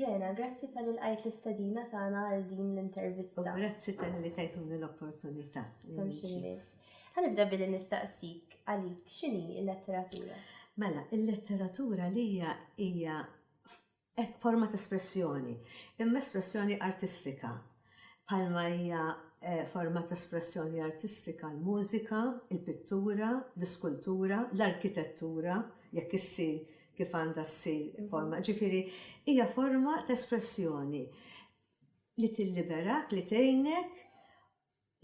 Rena, grazzi tal-li l-għajt l-istadina tagħna għal din l-intervista. U grazzi tal-li tajtuni l-opportunità. Għanibda billi nistaqsik għalik xini il-letteratura? Mela, il-letteratura li hija forma ta' espressjoni, imma espressjoni artistika, bħalma hija forma ta' espressjoni artistika l-mużika, il-pittura, l-iskultura, l-arkitettura, jekk issir kif għandha ssir forma, ġifieri hija forma ta' espressjoni li tilliberak, li tgħinek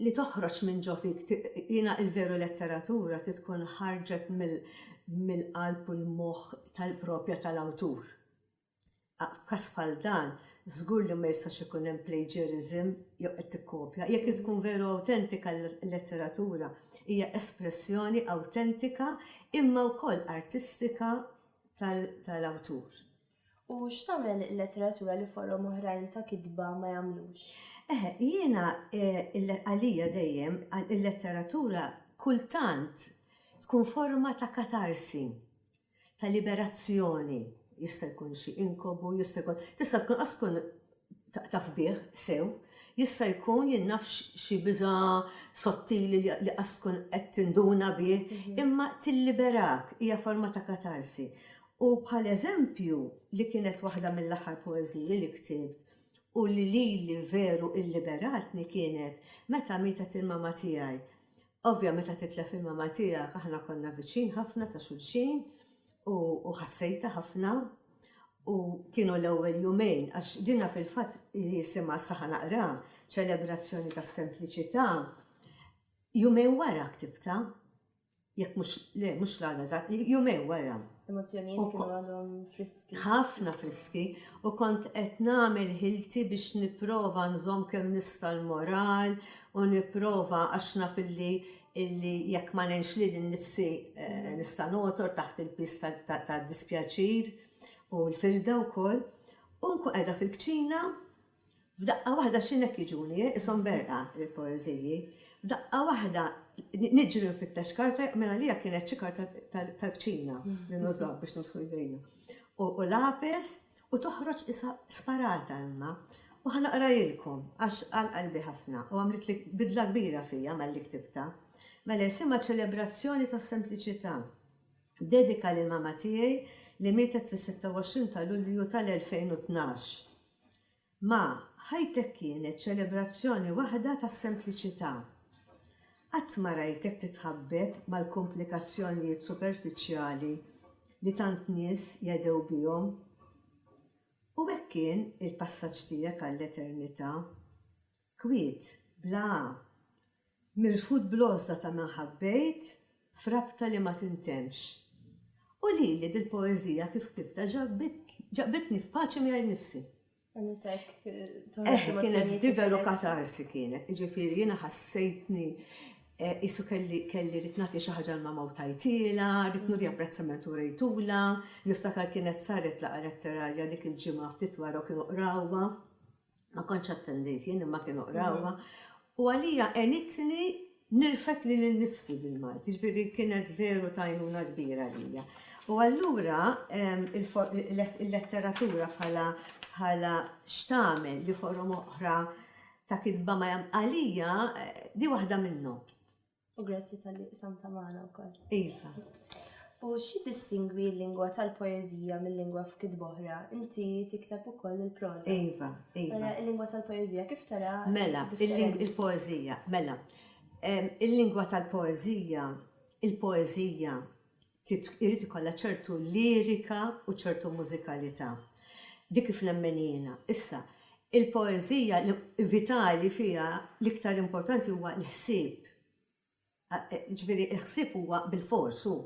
li toħroġ minn ġo fik jiena il-veru letteratura trid tkun ħarġet mill-qalb u l-moħħ tal-propja tal-awtur. F'każ bħal dan, żgur li ma jistax ikun hemm plagiarism jew qed tikkopja. Jekk tkun veru awtentika l-letteratura hija espressjoni awtentika imma wkoll artistika tal-awtur. U x'tagħmel il-letteratura li forom oħrajn ta' kitba ma jagħmlux? Eħe, jiena għalija dejjem il-letteratura kultant tkun forma ta' katarsi, ta' liberazzjoni. Jista' jkun xi inkobu, jista' jkun, tista' tkun qas tkun taf bih sew, jista' jkun jien naf xi biża' sottili li qas tkun qed tinduna bih, imma tilliberak, hija forma ta' katarsi. U bħal eżempju li kienet waħda mill-aħħar poeżiji li ktibt u li lili veru lliberatni kienet meta mietet il-mama tiegħi. Ovvja meta titlef il-mama tiegħek aħna konna viċin ħafna ta' xulxin u ħassejta ħafna u kienu l-ewwel jumejn għax dina fil-fatt jisimha saħa naqra ċelebrazzjoni tas-sempliċità. Jumejn wara ktibta, jekk mhux le mhux l-għada, jumejn wara. L-emozzjonijiet kienu għadhom friski. ħafna friski u kont qed nagħmel ħilti biex nipprova nżomm kemm nista' l-moral u nipprova għax naf illi illi jekk ma ngħinx lil innifsi eh, nista' notor taħt il-pis tad-dispjaċir u l-firda wkoll. U nkun qiegħda fil-kċina F'daqqa waħda x'in hekk jiġuni, qishom berqa, il-poeżiji. F'daqqa waħda niġri nfittex karta, minn għalija kienet xi karta tal-kċina li nużaw biex nussu jdejna. U lapis u toħroġ isa sparata imma. U ħanaqrajilkom għax għal qalbi ħafna u għamlet li bidla kbira fija malli ktibta. Mela jisimha ċelebrazzjoni tas-sempliċità. Dedika lil mama tiegħi li mietet fis-26 ta' Lulju tal-2012. Ma, ħajtek kienet ċelebrazzjoni waħda ta' sempliċità. Qatt ma rajtek titħabbeb mal-kumplikazzjonijiet superfiċjali li tant nies jedhew bihom. U hekk kien il-passaġġ tiegħek għall-eternità. Kwiet, bla A, mirfud bl-għożża ta' min ħabbejt f'rabta li ma tintemmx. U lili dil-poeżija kif ktibbtha ġabitni f'paċi miegħi nnifsi. Eħe, kienet divelu katarsi kienet, jiġifieri jiena ħassejtni qisu kelli kelli rid nagħti xi ħaġa l-mamma u tajtilha, rid nuri apprezzament u rejtulha, niftakar kienet saret laqgħa letterarja dik il-ġimgħa ftit wara u kienu qrawha. Ma kontx attendejt jien imma kienu qrawha u għalija għenitni nirfet li l-nifsi bil-Malti, ġviri kienet veru tajnuna kbira għalija. U għallura il-letteratura bħala bħala xtamel li forom oħra ta' kitba ma jam għalija di waħda minnhom. U grazzi tal-li qsamta magħna wkoll. Iva. U xi distingwi l-lingwa tal-poeżija mill-lingwa f'kit boħra? Inti tikteb ukoll il-proża. Iva, iva. Mela, il-lingwa tal-poeżija kif tara? Mela, il-poeżija, mela. Il-lingwa tal-poeżija, il-poeżija irid ikollha ċertu lirika u ċertu mużikalità. Dik kif nemmen jiena. Issa, il-poeżija vitali fiha l-iktar importanti huwa l-ħsieb. Jiġifieri l-ħsieb huwa bilfors hu.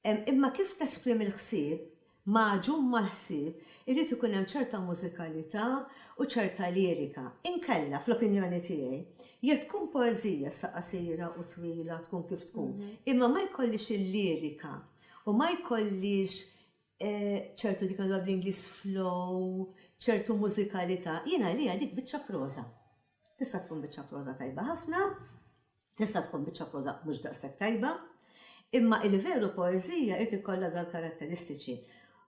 Imma kif tesprimi l-ħsieb magħġun mal-ħsieb, irid ikun hemm ċerta mużikalità u ċerta lirika. Inkella, fl-opinjoni tiegħi, jekk tkun poeżija issa qasira u twila tkun kif tkun, imma ma jkollhiex il-lirika u ma jkollhiex ċertu dik li ngħiduha bl-Ingliż flow, ċertu mużikalità, jien għalija dik biċċa proża. Tista' tkun biċċa proża tajba ħafna, tista' tkun biċċa proża mhux daqshekk tajba, imma il-veru poeżija irid ikollha dal karatteristiċi.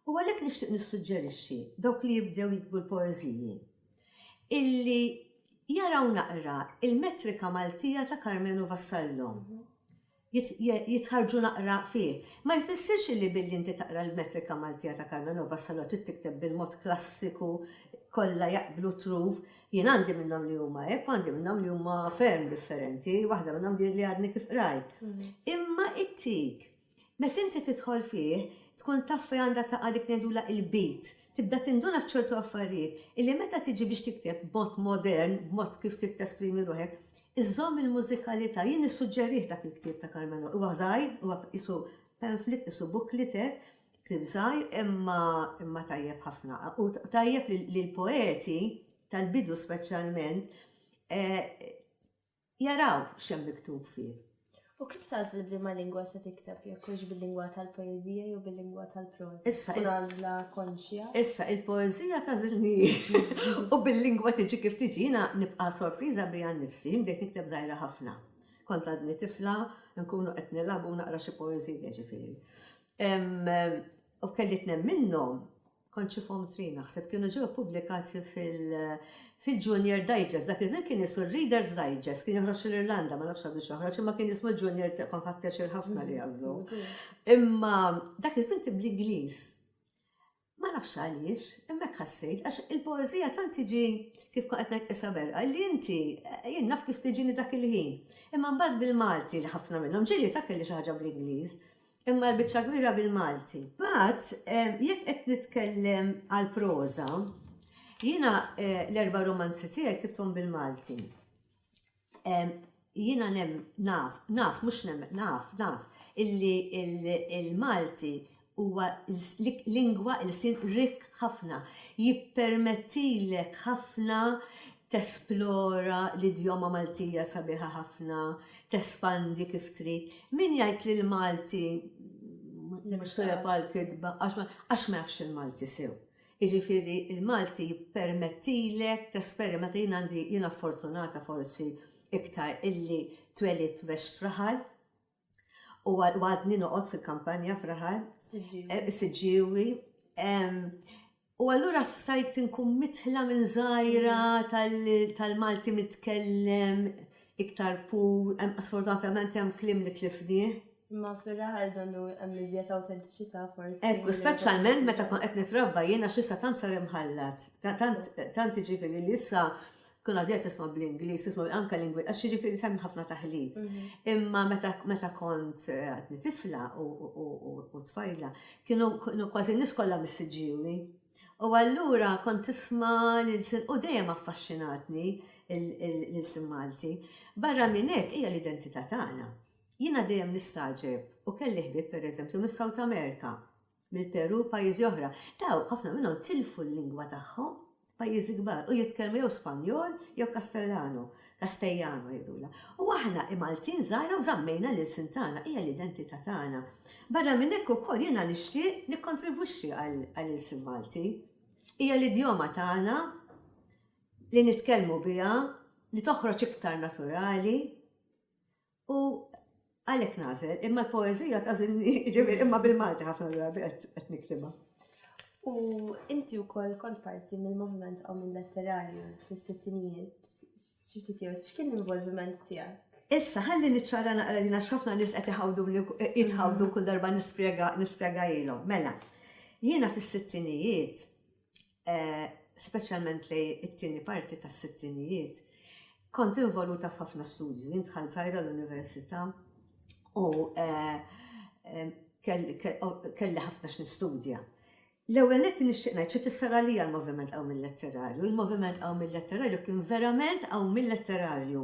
U għalhekk nixtieq nissuġġerixxi dawk li jibdew jikbu l-poeżiji illi jaraw naqra il-metrika Maltija ta' Karmenu Vassallo. Mhm. jitħarrġu naqra fih. Ma jfissirx illi billi inti taqra l-metrika Maltija ta' Carmen Nova Salo trid tikteb bil-mod klassiku kollha jaqblu truf. Jien għandi minnhom li huma hekk u għandi minnhom li huma ferm differenti, waħda minnhom di li għadni kif qrajt. Imma ittik, meta inti tidħol fih, tkun taf fejn għandha taqa' dik ngħidulha il-beat. Tibda tinduna f'ċertu affarijiet illi meta tiġi biex tikteb b'mod modern, b'mod kif trid tesprimi ruħek, Iżżomm il-mużikalità. Jien nissuġġerih dak il-ktieb ta' Carmelo. Huwa żgħir, huwa qisu pamphlet, qisu booklet hekk, ktieb żgħir imma imma tajjeb ħafna. U tajjeb li l-poeti tal-bidu speċjalment jaraw x'hemm miktub fih. U kif tagħżel b'liema lingwa se tikteb jekk hux bil-lingwa tal-poeżija jew bil-lingwa tal-proża? Issa tkun għażla konxja. Issa il-poeżija tagħżilni hi u bil-lingwa tiġi kif tiġi. Jiena nibqa' sorpriża bija nnifsi, bdejt nikteb żgħira ħafna. Kont għadni tifla, nkunu qed nilagħbu u naqra xi poeżija, jiġifieri. U kelli tnejn minnhom kont xi form three naħseb kienu ġew ippubblikati fil-Junior Digest, dak iż-żmien kien jisu Readers Digest, kien joħroġ l-Irlanda, ma nafx għadu xoħroġ, imma kien jismu Junior kont ħadd pjaċir ħafna li għażlu. Imma dak iż-żmien kien bl-Ingliż. Ma nafx għaliex, hemmhekk ħassejt, għax il-poeżija tant tiġi kif qed ngħid isaber, li inti jien naf kif tiġini dak il-ħin. Imma mbagħad bil-Malti li ħafna minnhom ġieli ta' kelli xi ħaġa bl-Ingliż. Imma l-biċċa kbira bil-Malti. Mbagħad jekk qed nitkellem għal proża, jiena eh, l-erba' romanzi tiegħi ktibthom bil-Malti. Jiena nem naf, naf, mhux nem, naf, naf, illi il-Malti huwa lingwa il-sin rik ħafna, jippermettilek ħafna tesplora l-idjoma Maltija sabiħa ħafna, tespandi kif trid, min jgħid li l-Malti mhux tajjeb għall-kitba għax ma jafx il-Malti sew. Jiġifieri l-Malti jippermettilek tesperimenta, jien għandi jiena fortunata forsi iktar illi twelidt u għext f'raħal, U għadni noqgħod fil-kampanja fraħar. Siġġiewi. U allura stajt inkun mitħla minn żgħira mm. tal-Malti mitkellem iktar pur, assordatament hemm klim li tlifnieh. Ma fil-raħal donnu hemm iżjed awtentiċità forsi. Ekku, speċjalment meta kon qed nitrabba jiena x'issa tant sar imħallat. Tant iġifieri li issa tkun għadija tisma' bl-Ingliż, tisma' anke lingwi, għax jiġifieri semmi ħafna taħlit. Mhm. Imma meta kont eh, għadni tifla u tfajla, kienu kważi nis kollha missiġġiwi. U allura kont tisma' lil sin u dejjem affaxxinatni lil sin Malti. Barra minn hekk hija l-identità tagħna. Jiena dejjem nistaġeb u kelli ħbieb pereżempju mis-South America. mill-Perù, pajjiżi oħra, dawk ħafna minnhom tilfu l-lingwa tagħhom, pajjiżi kbar, u jitkellmu jew Spanjol jew Kastellano, Castellano jgħidulha. U aħna Maltin żgħira u żammejna l-ilsien tagħna, hija l-identità tagħna. Barra minn hekk ukoll jiena nixtieq nikkontribwixxi għall-ilsien Malti. Hija l-idjoma tagħna li nitkellmu biha, li toħroġ iktar naturali, U għalhekk nagħżel, imma l-poeżija tażilni, ġifieri imma bil-Malti ħafna drabi qed niktibha. U inti wkoll kont parti mill-moviment għaw minn letterarju fis-sittinijiet, x'kien l-involviment tiegħek? Issa, ħalli niċċara naqra dina x'ħafna nies qed iħawduni jitħawdu kull darba nispjega ilhom. Mela, jiena fis-sittinijiet speċjalment lejn it-tieni parti tas-sittinijiet, kont involuta f'ħafna studju. Jien dħalt żgħira l-università u eh, kelli ħafna x'nistudja. L-ewwel qed nixtieq ngħid xi fisser għalija l-moviment qawm il-letterarju. Il-moviment qawm il-letterarju kien verament qawm il-letterarju.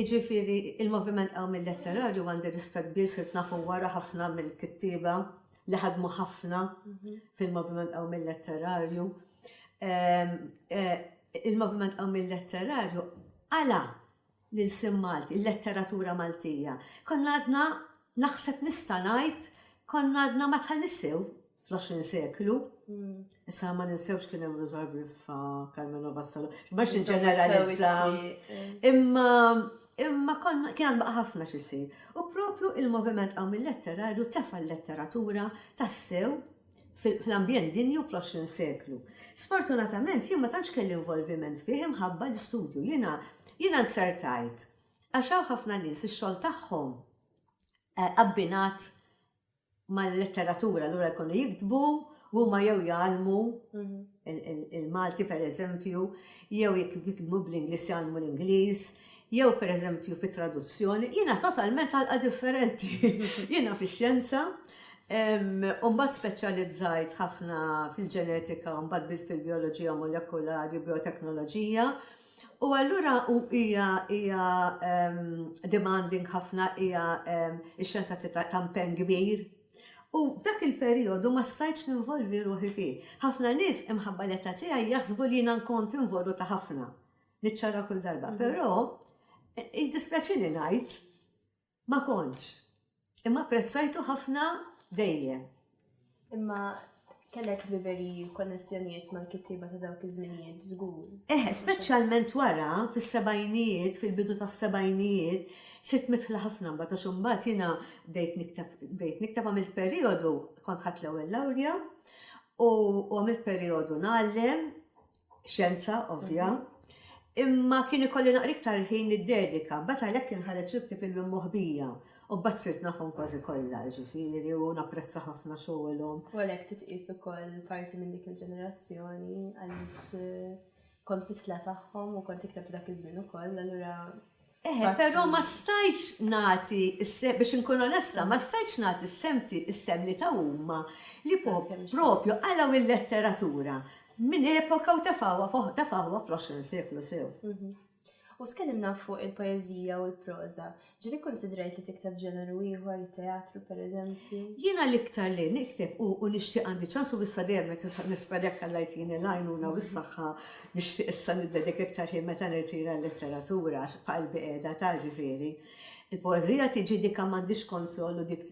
Iġifieri il-moviment qawm il-letterarju għandi rispett kbir sirt nafu wara ħafna mill-kittieba li ħadmu ħafna fil-Moviment Qawmil Letterarju. Il-Moviment Qawmil Letterarju għala lil sim Malti, il-letteratura Maltija. Konna għadna naħseb nista' ngħid konna għadna ma tħallnissew fl-20 seklu. Mm. Issa ma ninsewx kien hemm Rosar Griffa, Carmelo Vassalo, x'bax ġeneralizza. Imma imma konna kien għad ħafna xisir. U propju il-moviment għaw mill-letterarju tefa l-letteratura tassew fl-ambjent dinju fl-20 seklu. Sfortunatament jien ma tantx kelli involviment fih imħabba l-istudju. Jiena jiena nzertajt. Għax hawn ħafna nies ix-xogħol tagħhom eh, abbinat mal-letteratura allura jkunu jiktbu u huma jew jgħallmu il-Malti pereżempju, jew jekk jiktbu bl-Ingliż jgħallmu l-Ingliż, jew pereżempju fi traduzzjoni, jiena totalment għalqa differenti. Jiena fix-xjenza, u mbagħad speċjalizzajt ħafna fil-ġenetika, mbagħad bilt fil-bioloġija molekulari, bioteknoloġija, U allura u hija hija demanding ħafna hija ix-xjenza ta' mpenn kbir. U f'dak il-perijodu ma stajtx ninvolvi ruħi fih. Ħafna nies imħabba l-età tiegħi jaħsbu li jiena nkont involuta ħafna. Niċċara kull darba. Però jiddispjaċini ngħid Ma kontx. Imma apprezzajtu ħafna dejjem. Imma kellek ħbiberi u konnessjonijiet mal-kittieba ta' dawk iż-żminijiet żgur. Eh, speċjalment wara fis-sebgħinijiet, fil-bidu tas-sebgħinijiet, sirt midħla ħafna mbagħad għax imbagħad jiena bdejt nikteb, bdejt nikteb għamilt perijodu, kont ħadt l-ewwel lawrja u għamilt perijodu ngħallem xjenza ovvja, imma kien ikolli naqra iktar ħin id-dedika, bat għalhekk kien ħareġ l-ktieb il-mimmoħbija. U bat sirt nafhom kważi kollha, ġifieri, u napprezza ħafna xogħolhom. U għalhekk titqis ukoll parti minn dik il-ġenerazzjoni għaliex eh, kont mitla tagħhom u kont iktar f'dak iż-żmien ukoll, allura Eħe, però ma stajtx nagħti s-sehem, biex inkun onesta, ma stajtx nagħti s-sehem ti, is-sehem li taw huma, li po, propju qalgħu il-letteratura minn epoka u tefgħuha fo, tefgħuha fl-20 seklu sew. U tkellimna fuq il-poeżija u l-proża. Ġieli kkunsidrajt li tikteb ġeneru ieħor, it-teatru pereżempju? Jiena l-iktar li nikteb u, u nixtieq għandi ċans u issa dejjem qed nis, nispera jekk Alla jtini l-għajnuna u s-saħħa Nixtieq issa niddedika iktar ħin meta nirtira l-letteratura għax f'qalbi qiegħda ta' ġifieri. Il-poeżija tiġi dik kemm m'għandhiex kontroll u dik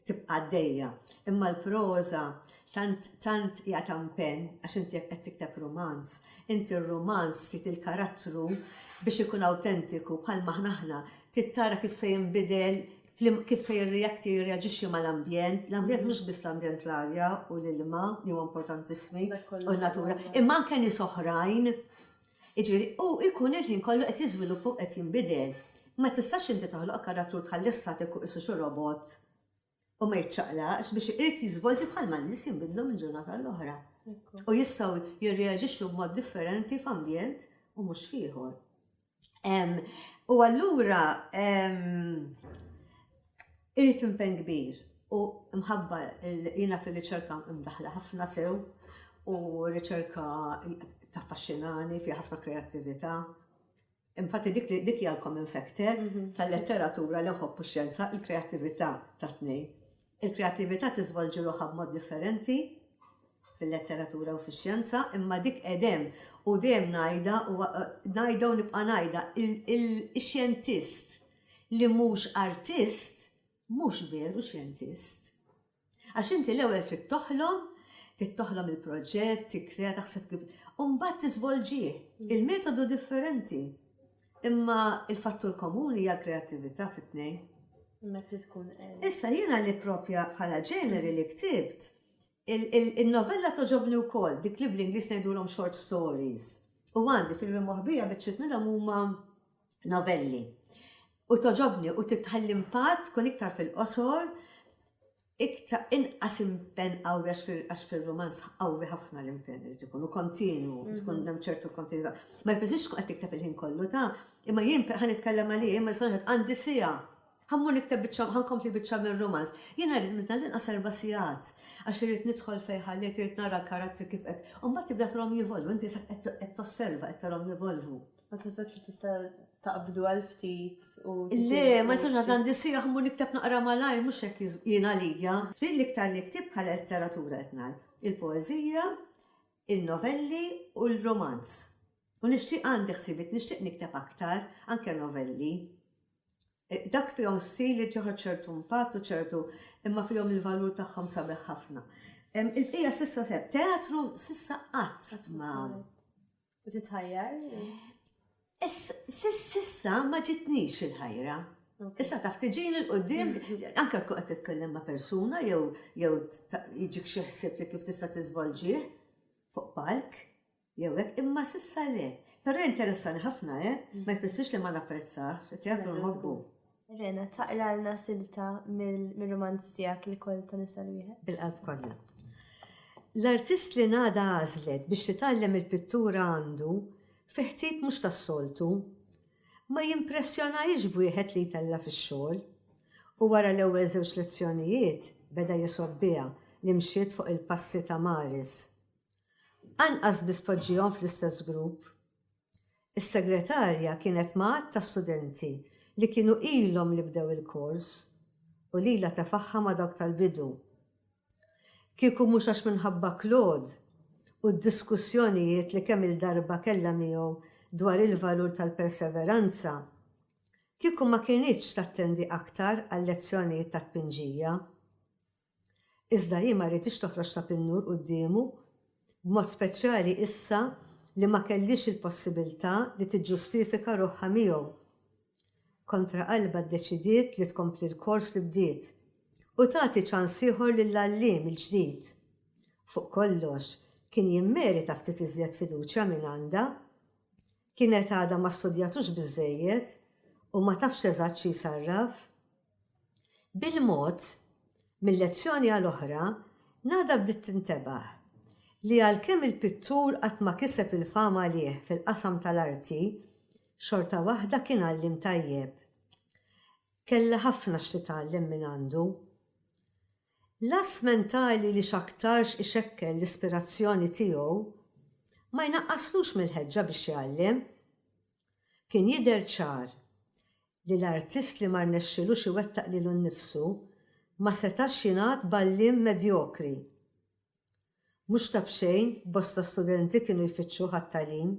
tibqa' għaddejja. Imma l-proża tant tant hija ta' mpenn għax inti jekk qed tikteb rumanz, inti r-rumanz trid il-karattru biex ikun awtentiku bħalma aħna aħna trid tara kif se jinbidel kif se jirreact, jirreaġixxi mal-ambjent, l-ambjent mhux biss l-ambjent l-arja u l-ilma li huwa importantissimi u n-natura, imma anke nies oħrajn. Jiġifieri u jkun il-ħin kollu qed jiżviluppa u qed jinbidel. Ma tistax inti toħloq karattru tħalli statik u qisu xi robot u ma jiċċaqlaqx biex irid jiżvolġi bħalma n-nies jinbidlu minn ġurnata għal oħra. U jistgħu jirreaġixxu b'mod differenti f'ambjent u mhux f'ieħor. U allura irrit impen kbir u mħabba jina fil-riċerka mdaħla ħafna sew u riċerka taffaxxinani fi ħafna kreattività. Infatti dik li dik hija l-common factor mhm. tal-letteratura li nħobbu xjenza il-kreattività ta' tnejn. Il-kreattività tiżvolġi ruħha b'mod differenti fil-letteratura u fix-xjenza, imma dik edem u dejjem ngħidha u ngħidha u nibqa' ngħidha il-xjentist li mhux artist mhux veru xjentist. Għax inti l-ewwel trid toħlom, trid toħlom il-proġett, tikkrea taħseb kif u mbagħad tiżvolġih. Il-metodu differenti. Imma il-fattur komuni hija l-kreattività fit-tnejn. Meta tkun Issa jiena li propja bħala ġeneri li ktibt, il-novella toġobni wkoll, dik li bl-Ingliż ngħidulhom short stories. U għandi filmi moħbija biċċiet minnhom huma novelli. U toġobni u titħalli impatt tkun iktar fil-qosor iktar inqas impenn qawwi għax fir-romanz qawwi ħafna l-impenn irid ikun u kontinwu, mhm. tkun hemm ċertu kontinwità. Ma jfisirx qed tikteb il-ħin kollu ta' imma jien ħan nitkellem għalih imma sanħet għandi sija. Ħammur nikteb biċċa ħankompli biċċa mir-romanz. Jien rrid minn dan inqas erba' sigħat għax irid nidħol fejn ħalliet irid nara l-karattri kif qed. U mbagħad tibda trom jivolvu, inti qed tosserva qed tarhom jivolvu. Ma tħossokx li tista' taqbdu għal ftit u. Le, ma jistax għad għandi sieħ mu nikteb naqra malaj, mhux hekk jien għalija. Din l-iktar li ktib bħala letteratura qed ngħid. Il-poeżija, in-novelli u l-romanz. U nixtieq għandi ħsibiet, nixtieq nikteb aktar, anke novelli. E, dak fihom stil li ġoħod ċertu impatt u ċertu imma fihom il-valur tagħhom sabiħ ħafna. Il-bqija sissa seb, teatru sissa qatt ma' U titħajjar? Sissa ma ġitnix il-ħajra. Issa taf tiġini l-qoddim, anka tkun qed titkellem ma' persuna jew jew jiġik xi ħsieb li kif tista' tiżvolġih fuq palk jew hekk, imma sissa le. Però interessani ħafna, eh? Ma jfissirx li ma napprezzahx, it-teatru nħobbu. Rena, taqralna silta mir-rumanz tiegħek il-koll ta' nisa l-wieħed. Bil-qalb kollha. L-artist li Nada għażlet biex titgħallem il-pittura għandu fi ħtib mhux tas-soltu. Ma jimpressjonahiex b'wieħed li jtella' fix-xogħol. U wara l-ewwel żewġ lezzjonijiet beda jisgħob biha li mxiet fuq il-passi ta' Maris. Anqas biss poġġihom fl-istess grupp. Is-Segretarja kienet ma' għadd ta' studenti li kienu ilhom li bdew il-kors u lilha tefagħha ma' dawk tal-bidu. Kieku mhux għax minħabba Claude u d-diskussjonijiet li kemm-il darba kellha miegħu dwar il-valur tal-perseveranza, kieku ma kinitx tattendi aktar għal-lezzjonijiet tat-tpinġija. Iżda hi ma riditx toħroġ ta' pinnur quddiemu, b'mod speċjali issa li ma kellhiex il-possibilità li tiġġustifika ruħha miegħu. Kontra qalbha ddeċidiet li tkompli l-kors li bdiet u tagħti ċans ieħor lill-għalliem il-ġdid. Fuq kollox, kien jimmerita ftit iżjed fiduċja mingħandha. Kienet għadha ma studjatux biżżejjed u ma tafx eżatt xi jsarraf. Bil-mod, minn lezzjoni għal oħra, Nada bdiet tintebaħ li għalkemm il-pittur qatt ma kiseb il-fama għalih fil-qasam tal-arti, xorta waħda kien għalliem tajjeb. Kellha ħafna x'titgħallem mingħandu. L-għażż mentali li x'aktarx ixekkel l-ispirazzjoni tiegħu, ma jnaqqaslux mill-ħeġġa biex jgħallem. Kien jidher ċar li l-artist li ma rnexxilux iwettaq lilu nnifsu ma setax jingħad b'għalliem medjokri. Mhux ta' b'xejn bosta studenti kienu jfittxuh għat-tagħlim.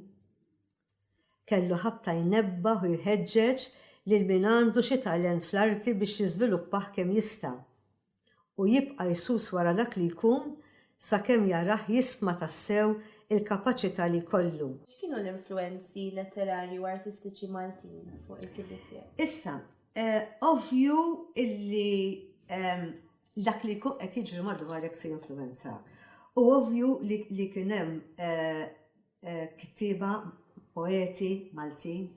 Kellu ħabta jnebbaħ u jħeġġeġ lil min għandu xi talent fl-arti biex jiżviluppah kemm jista', u jibqa' jsus wara dak li jkun sakemm jarah jistma tassew il-kapaċità li jkollu. X'kienu l-influwenzi letterarji u artistiċi Maltin fuq il-kitbiet tiegħek? Issa, ovvju illi dak li jkun qed jiġri madwarek se jinfluwenzak. U ovvju li kien hemm kittieba, poeti Maltin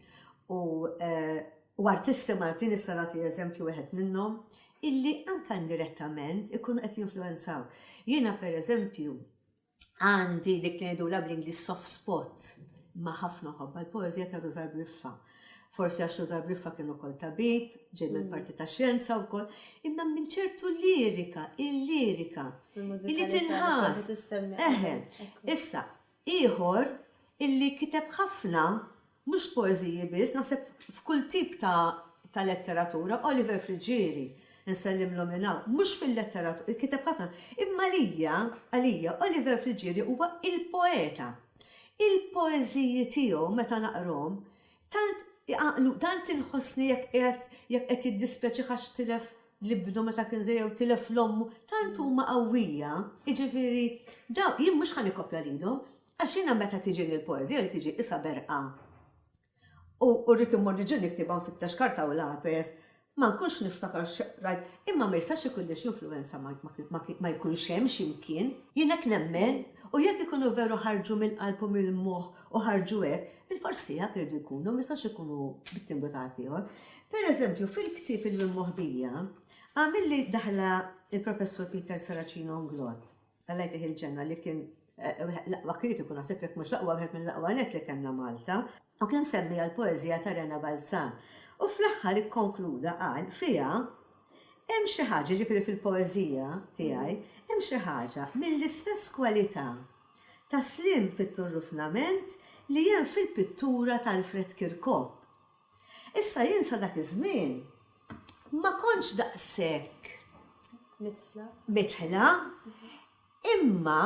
u artisti Maltin, issa nagħti eżempju wieħed minnhom, illi anke indirettament ikunu qed jinfluwenzawk. Jiena pereżempju, għandi dik li ngħidulha bl-Ingliż soft spot ma' ħafna ħobba l-poeżija ta' Rużar Briffa. Forsi għax Rużar Briffa kien ukoll tabib, ġej minn mm. parti ta' xjenza wkoll, imma minn ċertu lirika, il-lirika, illi tinħas. Eħe, issa, ieħor illi kiteb ħafna Mhux poeżiji biss, naħseb f'kull tip ta' ta' letteratura, Oliver Friggieri, insellmlu minn hawn, mhux fil-letteratura, kiteb ħafna, imma għalija, għalija, Oliver Friggieri huwa il-poeta. Il-poeżiji tiegħu meta naqrahom, tant iqanqlu, tant inħossni jekk qiegħed, jekk qed jiddispjaċih għax tilef l-ibnu meta kien żgħir jew tilef l-ommu, tant huma qawwija, jiġifieri, dawn, jien mhux ħa nikkopja lilhom, Għax jiena meta tiġini l-poeżija li tiġi qisha berqa u rrid immur niġi niktibha nfittex karta u lapes, ma nkunx niftakar x'qrajt, imma ma jistax ikun li x'influwenza ma jkunx hemm xi mkien. Jien hekk nemmen u jekk ikunu veru ħarġu mill-qalb u mill-moħħ u ħarġu hekk, bilfors tiegħek iridu jkunu, ma jistgħux ikunu bit-timbru ta' ħaddieħor. Per eżempju, fil-ktieb Il-Immoħbija, għamilli daħla l-Professur Peter Saracino Nglott. Alla jtih il-ġenna li kien l-aqwa kritiku naħseb jekk mhux l-aqwa wieħed mill-aqwa nett li kellna Malta. U kien semmiha l-poeżija ta' Rena Balzan. U fl-aħħar ikkonkluda qal fiha hemm xi ħaġa, jiġifieri fil-poeżija tiegħi, hemm xi ħaġa mill-istess kwalità ta' sliem fit-turrufnament li hemm fil-pittura t'Alfred Kirkop. Issa jien sa dak iż-żmien ma kontx daqshekk midħla imma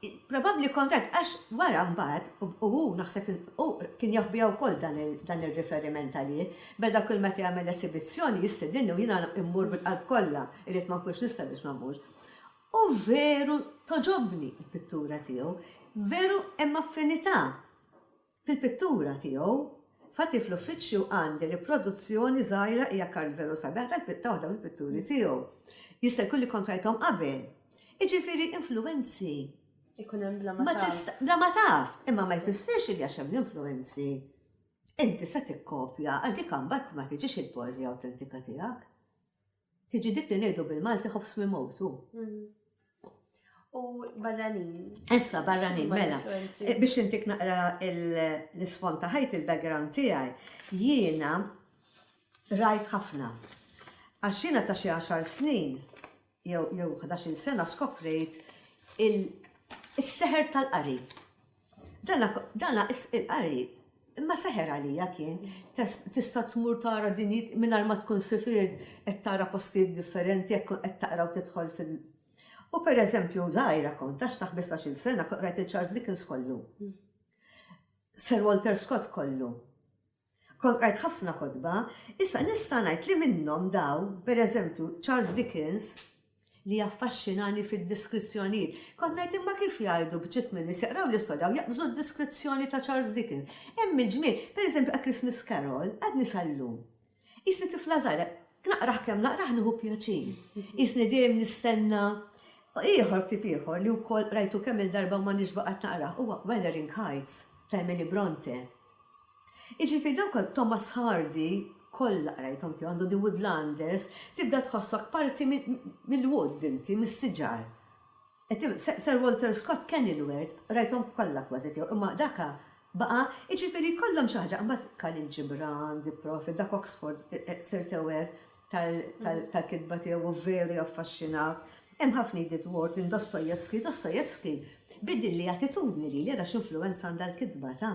probabbli kont għedt għax wara mbagħad u hu naħseb hu kien jaf biha wkoll dan ir-riferiment għalih, beda kull meta jagħmel esibizzjoni jistedinni u jiena mmur bil-qalb kollha, irrid ma nkunx nista' biex ma mmurx. U veru togħġobni l-pittura tiegħu, veru hemm affinità Fil-pittura tiegħu, Fati fl-Uffiċċju għandi riproduzzjoni żgħira hija kard veru sabiħ tal-pitta waħda mill-pitturi tiegħu. Jista' jkun li kont rajthom qabel. Jiġifieri influwenzi. Ikun hemm bla ma taf. Bla ma taf, imma ma jfissirx li għax hemm l-influwenzi inti se tikkopja għax dik imbagħad ma tiġix il-poeżija awtentika tiegħek. Tiġi dik li ngħidu bil-Malti ħobs mimut u. U barranin. Issa barranin, mela. Eh, biex intik naqra l-isfond ta' ħajt il-background tiegħi, jiena rajt ħafna. Għax jiena ta' xi 10 snin jew 11 sena skoprejt il-seħer tal-qari. Dana dana il-qari imma seħer għalija kien tista' tmur tara dinjit mingħajr ma tkun sifiert qed tara postijiet differenti jekk tkun qed taqra u tidħol fil U pereżempju żgħira kont għax sa ħmistax-il sena kont qrajt il-Charles Dickens kollu. Sir Walter Scott kollu. Kont qrajt ħafna kotba, issa nista' ngħid li minnhom dawn, pereżempju, Charles Dickens, li jaffaxxinani fid-diskrizzjonijiet. Kont ngħid imma kif jgħidu bċiet minn nies jaqraw l-istorja u jaqbżu d-diskrizzjoni ta' Charles Dickens. Hemm il-ġmiel, pereżempju A Christmas Carol, għadni sal-lum. Qisni tifla żgħira, naqrah kemm naqrah nieħu pjaċir. Qisni dejjem nistenna ieħor ktieb ieħor li wkoll qrajtu kemm-il darba u ma nix baqgħet naqrah huwa Wuthering Heights ta' Emily Brontë. Jiġifieri dawk għal Thomas Hardy kollha qrajthom tiegħu għandu The Woodlanders, tibda tħossok parti mill-wood inti, mis-siġar. Sir Walter Scott, Kenilworth, qrajthom kollha kważi tiegħu imma daka baqa', jiġifieri jkollhom xi ħaġa. Imbagħad Khalil Gibran, The Prophet, dak Oxford sirt aware tal-kitba tiegħu u veru jaffaxxinawk. Hemm ħafna Edith Wharton, Dostoevsky, Dostoevsky biddilli attitudni lili ara x'influwenza għandha l-kitba ta'.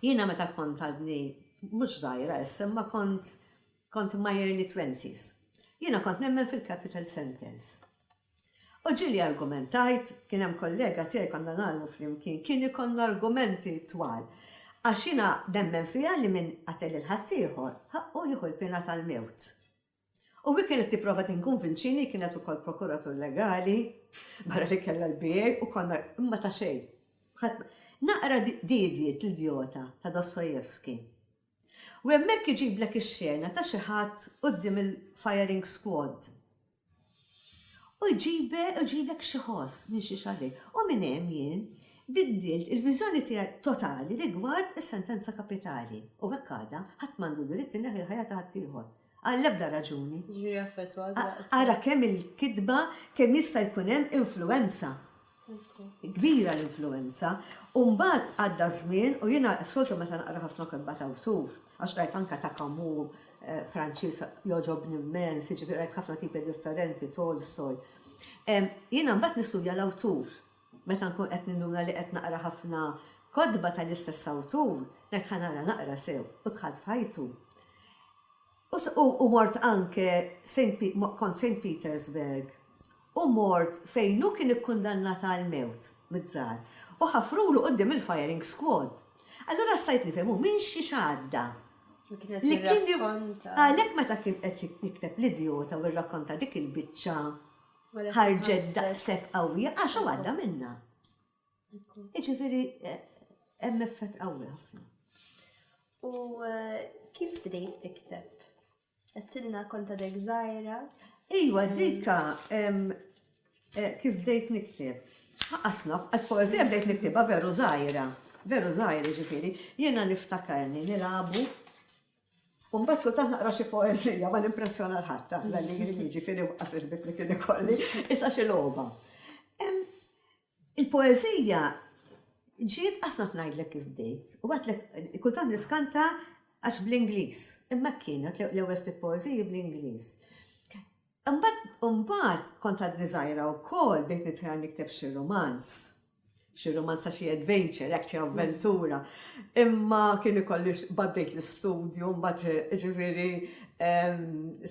Jiena meta kont għadni mhux żgħira issa imma kont kont my early twenties. Jiena kont nemmen fil-capital sentence. U ġieli argumentajt, kien hemm kollega tiegħi konna nagħlmu flimkien, kien ikollna argumenti twal. Għax jiena nemmen fiha li min qatel lil ħaddieħor, ħaqqu jieħu l-piena tal-mewt. U hi kienet tipprova tinkunvinċini, kienet ukoll prokuratur legali, barra li kellha l-BA u konna imma ta' xejn. Naqra diedjiet l-idjota ta' Dostoevsky. U hemmhekk iġiblek ix-xena ta' xi ħadd quddiem il-firing squad. U jġibek xi ħoss minn xi xagħliet. U minn hemm jien biddilt il-viżjoni tiegħi totali rigward is-sentenza kapitali. U hekk għadha, ħadd m'għandu dritt ineħħi l-ħajja ta' ħaddieħor. Għall-ebda raġuni. Jiġifieri jaffettwak daqshekk. Ara kemm il-kitba, kemm jista' jkun hemm influwenza. kbira l-influwenza u mbagħad għadda ż-żmien u jiena s-soltu meta naqra ħafna kitba ta' awtur, għax qrajt anke ta' Camus, Franċiż jogħġobni mmens, jiġifieri qrajt ħafna tipi differenti, Tolstoy. Jiena mbagħad nistudja l-awtur. Meta nkun qed ninduna li qed naqra ħafna kotba tal-istess awtur, ngħid ħa nara naqra sew u dħalt f'ħajtu. U mort anke kont Saint Petersburg u mort fejn hu kien ikkundannat għall-mewt mit-Tsar u ħafrulu quddiem il-firing squad. Allura stajt nifhem hu minn xi x'għadda li kien jirrakkonta. Għalhekk meta kien qed jikteb L-Idjota u jirrakkonta dik il-biċċa ħarġet daqshekk qawwija għax hu għadda minnha. Iġifiri, hemm effett qawwi ħafna. U eh, kif bdejt tikteb? Għattilna konta dek zaħira? Iwa, dika, eh, kif bdejt nikteb? Ħaqasna, għal-poezija bdejt niktibha veru zaħira. Veru zaħira ġifiri, jena niftakarni nilabu U mbagħad kultant naqra xi poeżija ma nimpressjona l ħadd tara li jien jiġifieri waqas il-ħbieb li kien ikolli, issa xi logħba. Il-poeżija ġiet qas naf ngħidlek kif bdejt, u għadlek kultant niskanta għax bl-Ingliż, imma hekk kienet l-ewwel ftit poeżiji bl-Ingliż. Imbagħad, imbagħad kont għad niżgħira wkoll bdejt nitħajjar nikteb xi rumanz. Xi rumanz ta' xi adventure, hekk xi avventura. Imma kien ikolli baddejt l-istudju, mbagħad ġifieri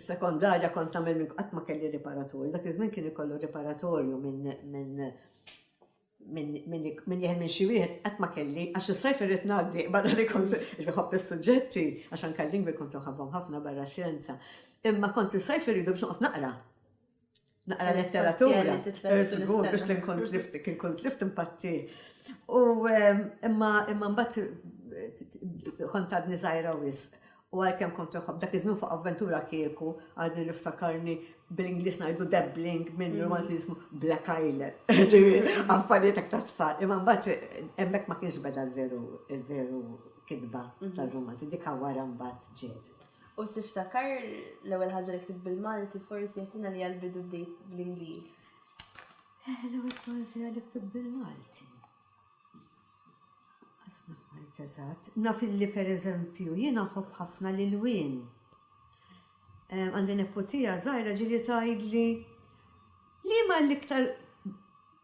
sekondarja kont nagħmel minn qatt ma kelli riparatur. Dak iż-żmien kien ikollu riparatorju minn Min jeħel minn xi wieħed qatt ma kelli, għax is-sajf irrid ngħaddi barra li kont inħobb is-suġġetti, għax anke l-lingwi kont inħobbhom ħafna barra x-xjenza. Imma kont is-sajf irridu biex noqgħod naqra. Naqra letteratura. Żgur biex kien kont lift, kien kont lift impatti. U imma imma mbagħad kont għadni żgħira wisq. U għalkemm kont inħobb dak iż-żmien fuq avventura kieku, għadni niftakarni bl-Ingliż ngħidu dabbling minn mhm. romanz jismu Black Island. Ġifieri, affarijiet hekk ta' tfal. Imma mbagħad hemmhekk ma kienx beda l-veru l-veru kitba mhm. tar-romanzi, dik wara mbagħad ġiet. U tiftakar l-ewwel ħaġa li ktibt bil-Malti forsi jagħtina li għal-bidu bdejt bl-Ingliż. Eh, l-ewwel poeżija li ktibt bil-Malti. Naf illi pereżempju jiena nħobb ħafna l-ilwien. Għandi neputija żgħira ġieli tgħidli, liema l-iktar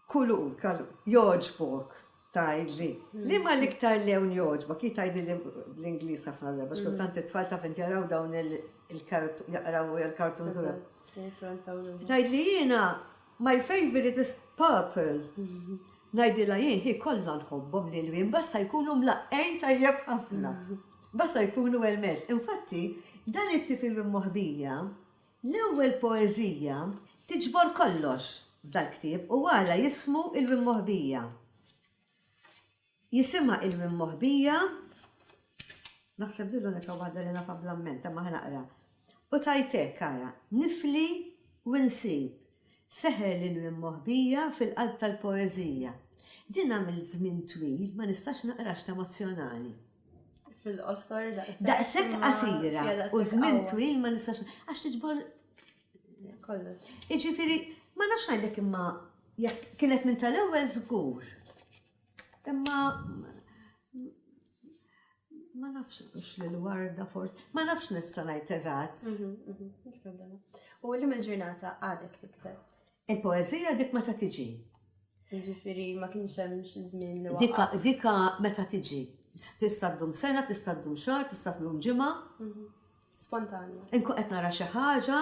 kulur jogħġbok? tgħidli. Liema l-iktar lewn jogħġbok? Hi tgħidilli bl-Ingliż ħafna drabi għax kultant it-tfal taf int jaraw dawn il-kartuni, jaqraw il-kartuni. Tgħidli jiena. My favourite is purple ngħidilha jien hi kollha nħobbhom l-ilwien basta jkunu mlaqqgħin tajjeb ħafna. Basta jkunu well matched. Infatti dan it-tip ilwien moħbija, l-ewwel poeżija tiġbor kollox f'dal-ktieb u għala jismu ilwien moħbija. Jisimha il-Mimmoħbija, naħseb din l-unika waħda li nafha bl-amment, imma ħa naqra. U tgħid hekk, ara, Nifli u nsib, seħer lill-Mimmoħbija fil-qalb tal-poeżija. Din għamilt żmien twil ma nistax naqraha x'ta' emozzjonali. Fil-qosor daqshekk. Daqshekk qasira u żmien twil ma nistax għax tiġbor kollox. Jiġifieri ma nafx ngħidlek imma jekk kienet minn tal-ewwel żgur. Imma ma nafx mhux lil warda forsi, ma nafx nista' ngħid eżatt. Mhm, mhm, mhux problema. U li minn ġurnata għadek tikteb. Il-poeżija dik meta tiġi. Jiġifieri ma kienx hemm xi żmien li waqgħet. Dika, dika meta tiġi. Tista' ddum sena, tista' ddum xahar, tista' ddum ġimgħa. Mhm. Spontanja. Inkun qed nara xi ħaġa,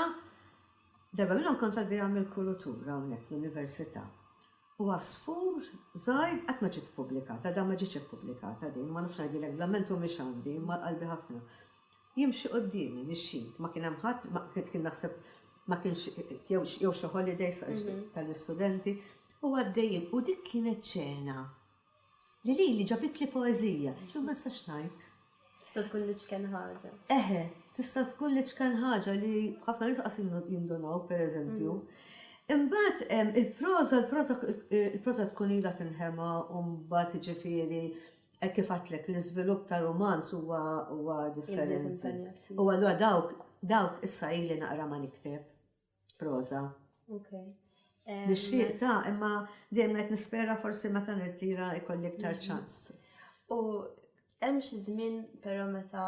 darba minnhom kont għaddejja mill-kulutura hawnhekk l-università. u għasfur żgħir qatt ma ġiet ippubblikata, għadha ma ġietx ippubblikata din, ma nafx ngħidilek bla ment u mhix għandi, imma għal qalbi ħafna. Jimxi quddiemi, mixjin, ma kien hemm ħadd, kien naħseb ma kienx jew xi holidays tal-istudenti, u għaddejjin, u dik kienet xena. Li lili ġabitli poeżija. Jiġifieri ma nistax ngħid. Tista' tkun l-iċken ħaġa. Eħe, tista' tkun l-iċken ħaġa li ħafna nies qas jindunaw, pereżempju. Imbagħad hemm il-proża, il-proża, il-proża tkun ilha tinħema u mbagħad jiġifieri hekk kif għedtlek l-iżvilupp ta' rumanz huwa huwa differenti. U allura dawk, dawk issa ili naqra ma nikteb. Prosa. Ok. Nixtieq ta' imma dejjem qed nispera forsi meta nirtira jkolli iktar mhm. ċans. U hemm xi żmien però meta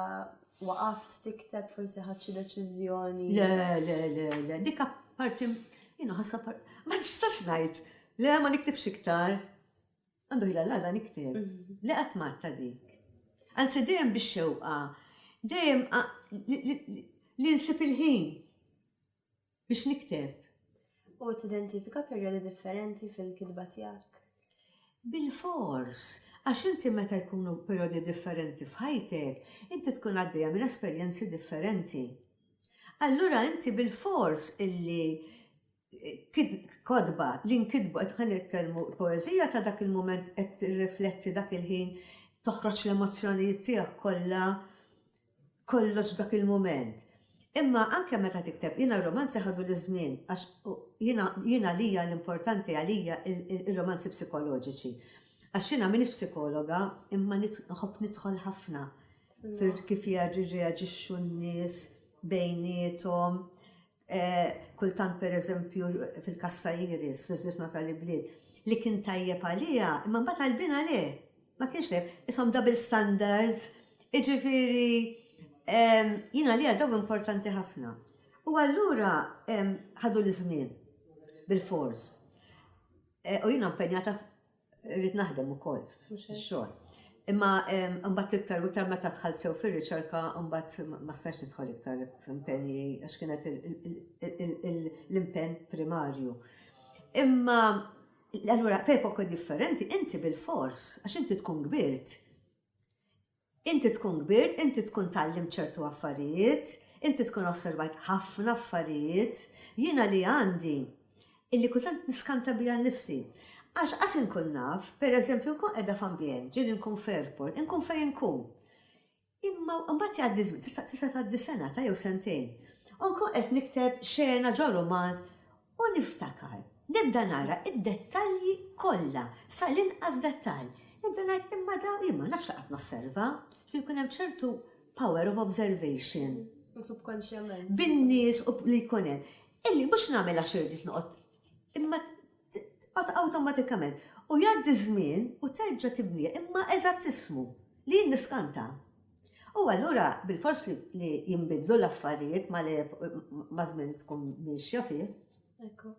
waqaft tikteb forsi ħadd xi deċiżjoni. Le, le, le, le, dik parti jiena ħassa ma nistax ngħid. Le, ma niktibx iktar. Għandu ħila l-għada nikteb li qatt ma ta' dik. Anzi dejjem bix-xewqa, dejjem li nsib il-ħin biex nikteb. U tidentifika perjodi differenti fil-kitba tiegħek? Bil-fors, għax inti meta jkunu periodi differenti f'ħajtek, inti tkun għaddejja minn esperjenzi differenti. Allura inti bil-fors illi kotba li nkitbu qed ħa nitkellmu poeżija ta' dak il-mument qed tirrifletti dak il-ħin toħroġ l-emozzjonijiet tiegħek kollha kollox dak il-mument. Imma anke meta tikteb jiena r-romanzi ħadu l-żmien għax jiena jiena lija l-importanti għalija ir-romanzi psikoloġiċi. Għax jiena m'iniex psikologa imma nħobb nidħol ħafna kif jirreaġixxu n-nies bejniethom. kultant pereżempju fil-każ ta' Iris, fiż-żifna tal-ibliet, li kien tajjeb għaliha, imma mbagħad għall-binha le. Ma kienx tajjeb. Ishom double standards, jiġifieri jien għaliha dawn importanti ħafna. U allura ħaduli żmien bilfors. U jiena mpenjata Irrid naħdem ukoll fix-xogħol. Imma mbagħad iktar u iktar meta dħalt sew fir-riċerka mbagħad ma stajx nidħol iktar f'impenji għax kienet l-impenn primarju. Imma allura f'epoka differenti inti bil-fors għax inti tkun kbirt Inti tkun kbirt, inti tkun tgħallimt ċertu affarijiet, inti tkun osservajt ħafna affarijiet, jiena li għandi, illi kultant niskanta bija nnifsi. Għax qas inkun naf, per eżempju nkun qiegħda f'ambjent, ġieli nkun f'airport, inkun fejn inkun. Imma mbagħad jgħaddi żmien, tista' tgħaddi sena ta' jew sentejn, u nkun qed nikteb xena ġo rumanz U niftakar, nibda nara d-dettalji kollha, sal-inqas dettall. Nibda ngħid, imma dawn, jien ma nafx li qatt nosserva, ġifieri jkun hemm ċertu power of observation. U subkonxjament. Bin-nies u li jkun hemm. Illi mhux nagħmel għax irrid noqgħod, imma awtomatikament. U jgħaddi żmien u terġa' tibniha, imma eżatt ismu, li jien niskanta. U allura bilfors li jinbidlu l-affarijiet ma li ma żmien li tkun miexja fih. Ekku.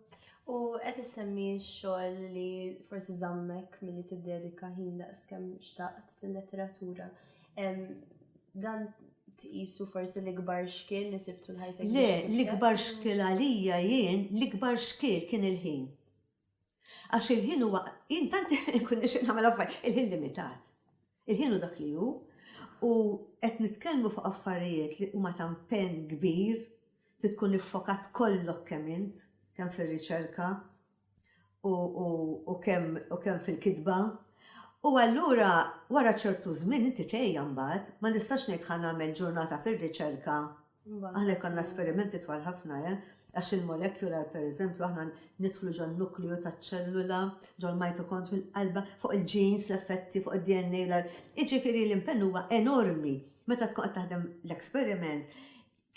U qed issemmi x-xogħol li forsi żammek milli tiddedika ħin daqskemm xtaqt lill-letteratura. Dan tqisu forsi l-ikbar xkiel li sibtu l-ħajtek? Le, l-ikbar xkiel għalija jien, l-ikbar xkiel kien il-ħin. Għax il-ħin huwa, jien tant inkun nixtieq nagħmel affarijiet, il-ħin limitat. Il-ħin hu dak li hu, u qed nitkellmu fuq affarijiet li huma ta' impenn kbir, trid tkun iffokat kollok kemm int, kemm fir-riċerka u kemm fil-kitba. U allura wara ċertu żmien inti tgħejja mbagħad, ma nistax ngħid ħa nagħmel ġurnata fir-riċerka Aħna jkollna esperimenti twal ħafna, eh? Għax il-molekular, per eżempju, aħna nidħlu ġol nukliju ta' ċellula, ġol mitokond fil-qalba, fuq il-ġins, l-effetti, fuq il-DNA, l-ar. Iġifiri l-impenn huwa enormi. Meta tkun qed taħdem l-experiment,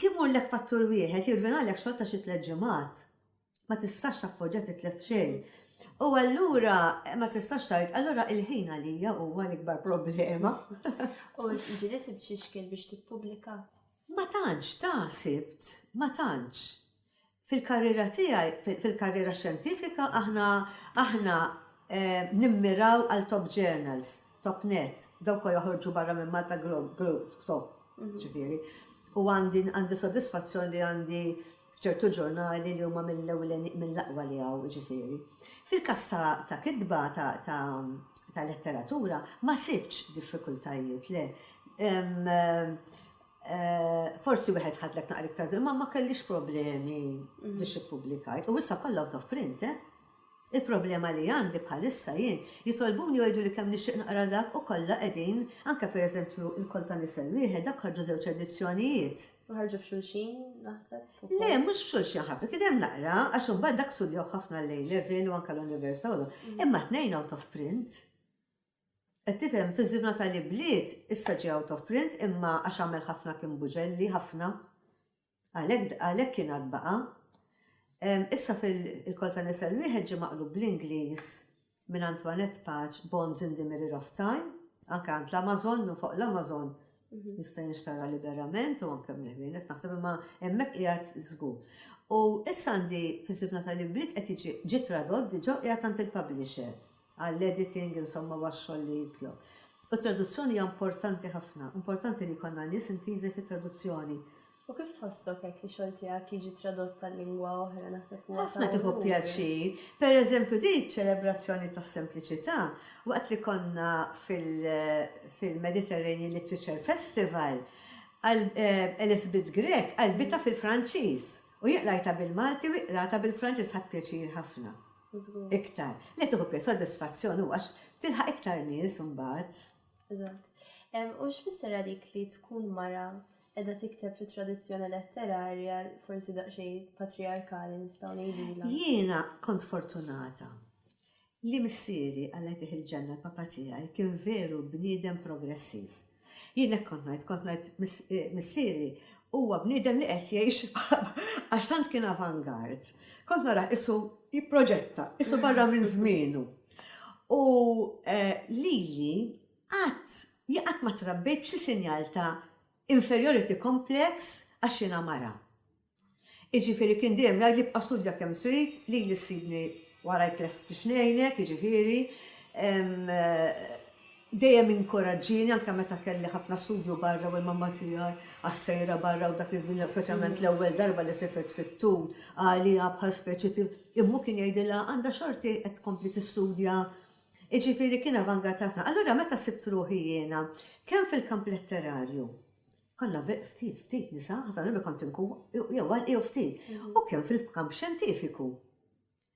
kim mur l-ek fattur wieħed jirvina l-ek xorta xi tleġimat. ma tistax tappoġġa titlef xejn. U allura ma tistax tajt, allura il-ħin għalija huwa l-ikbar problema. U ġili sibt xi xkil biex tippubblika? Ma tantx ta' sibt, ma tantx. Fil-karriera tiegħi, fil-karriera xjentifika, aħna aħna eh, nimmiraw għal top journals, top net, dawk joħorġu barra minn Malta Globe, Globe top, mhm. ġifieri. U għandi għandi sodisfazzjon li għandi f'ċertu ġurnali li huma mill-ewlenin, mill-aqwa li hawn, jiġifieri. Fil-każ ta', ta' kitba, ta', ta', ta' letteratura, ma sibtx diffikultajiet, le. Forsi wieħed ħadlek naqra iktar żmien, imma ma kellix problemi biex ippubblikajt. U issa kollha out of print, eh! Il-problema li għandi bħalissa jien, jitolbuni u jgħiduli kemm nixtieq naqra dak u kollha qegħdin, anke per eżempju Il-Koll ta' Nisel Wieħed, dak ħarġu żewġ edizzjonijiet. Ma ħarġu f'xulxin, naħseb, ukoll? Le, mhux f'xulxin ħafna, kien hemm naqra, għax imbagħad dak studjawh ħafna l-A Level u anke l-Università u dawn. Imma t-tnejn out of print. Qed tifhem, Fiż-Żifna tal-Ibliet issa ġie out of print imma għax għamel ħafna kien Buġelli, ħafna. Għalhekk għalhekk kien għad baqa'. Issa fil Il-Koll ta' Nisel Wieħed ġie maqlub bl-Ingliż minn Antoinette Paċ Bonds in the Mirror of Time, anke għand l-Amazon, minn fuq l-Amazon jista' jinxtara liberament u anke mill-ħwienet qed naħseb imma hemmhekk qiegħed żgur. U issa għandi fiż-Żifna tal-Imbliet qed jiġi ġie tradott diġà u qiegħed għand il-publisher. għall-editing, insomma huwa x-xogħol li jitlob. U t-traduzzjoni hija importanti ħafna, importanti li jkollna nies intiżi fit-traduzzjoni. U kif tħossok hekk li xogħol tiegħek jiġi tradott għal lingwa oħra naħseb huwa Ħafna tieħu pjaċir. Pereżempju di ċ-ċelebrazzjoni tas-sempliċità waqt li konna fil-Mediterranean Literature Festival, Elisabeth Grech qalbitha fil-Franċiż u jien qrajtha bil-Malti u hi qratha bil-Franċiż, ħadt pjaċir ħafna. iktar. Li tieħu pjacir, sodisfazzjon u għax tilħaq iktar nies imbagħad. Eżatt. U x'fisser għalik li tkun mara edha tikteb fi tradizzjoni letterarja forsi daqsxejn patriarkali nistgħu ngħidilha. Jiena kont fortunata li missieri għalleħ il-ġenna l-papa tiegħi kien veru bniedem progressiv. Jien hekk kont ngħid, kont ngħid missieri huwa bniedem li qed jgħix għax tant kien avant-garde. Kont narah qisu jipproġetta, qisu barra minn żmienu. U lili qatt jien qatt ma trabbejt b'xi sinjal ta' inferiority complex għax jiena mara. Jiġifieri kien dejjem jgħidli bqa' studja kemm trid, lili ssibni warajk lest biex ngħinek, jiġifieri dejjem inkoraġġieni anke meta kelli ħafna studju barra u l-mamma tiegħi għax sejra barra u dak iż-żmien speċjalment l-ewwel darba li sifet fit-tul għaliha bħal speċi immu kien jgħidilha għandha xorti qed tkompli tistudja jiġifieri kien avangard ħafna. Allura meta sibt ruħi jiena kemm fil-kamp letterarju Konna ftit, ftit nisa, ħafna drabi kont inkun jew waħda jew ftit. U kemm fil-kamp xjentifiku.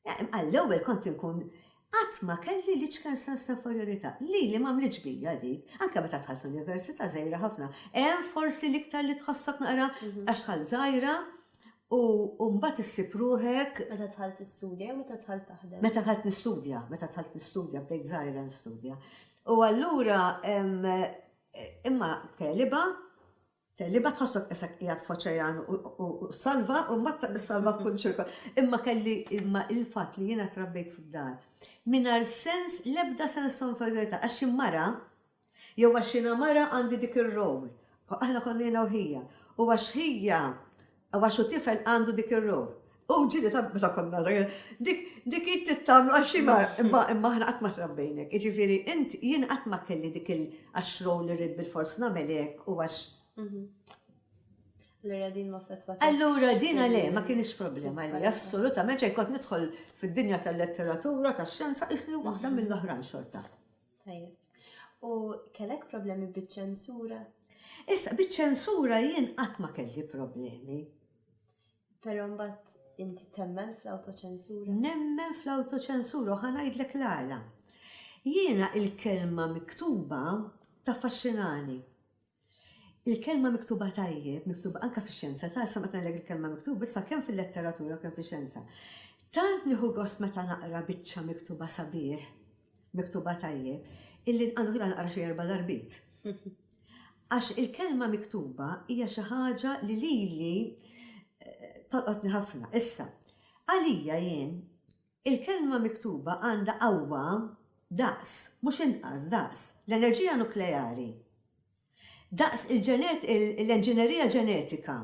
Għall-ewwel kont inkun qatt ma kelli l-iċken sens ta' inferjorità. Lili m'għamlitx bija dik. Anke meta dħalt l-università żgħira ħafna. Hemm forsi l-iktar li tħossok naqra għax dħalt żgħira u mbagħad issib ruħek. Meta dħalt tistudja jew meta dħalt taħdem? Meta dħalt nistudja, meta dħalt nistudja, bdejt żgħira nistudja. U allura Imma teliba, teliba tħossok isek qiegħed f'oċejan u salva u mbagħad tissalva f'kull ċirkol. Imma kelli imma il-fatt li jiena trabbejt fid-dar mingħajr sens l-ebda sens ta' inferjorità għax xi mara jew għax jiena mara għandi dik ir-role. Aħna konna jiena u ħija. U għax ħija Għax hu tifel għandu dik ir-ruħ. U ġili ta' meta konna żgħir, dik dik id tittamlu għax xi mar, imma imma aħna qatt ma trabbejnek. Jiġifieri int jien qatt ma kelli dik il għax row li rrid bil-fors nagħmel hekk u għax. Allura din ma fetwa. Allura din għale ma kienx problema li assolutament xejn kont nidħol fid-dinja tal-letteratura, tax-xjenza, isni waħda mill-oħrajn xorta. Tajjeb. U kellek problemi biċ-ċensura? Issa, biċ-ċensura jien qatt ma kelli problemi. Però mbagħad inti temmen fl-awtoċensura? Nemmen fl-awtoċensura u ħa ngħidlek l-għala. Jiena il-kelma miktuba taffaxxinani. Il-kelma miktuba tajjeb, miktuba anke fix-xjenza, ta' issa meta ngħidlek il-kelma miktub, issa kemm fil-letteratura u kemm fix-xjenza. Tant nieħu gost meta naqra biċċa miktuba sabiħ, miktuba tajjeb, illi għandu kien naqra xi erba' darbit. Għax il-kelma miktuba hija xi ħaġa li lili tolqotni ħafna. Issa, għalija jien, Il-kelma miktuba għandha qawwa daqs, mhux inqas, daqs, l-enerġija nukleari. Daqs il-ġenet, il, l-enġinerija ġenetika.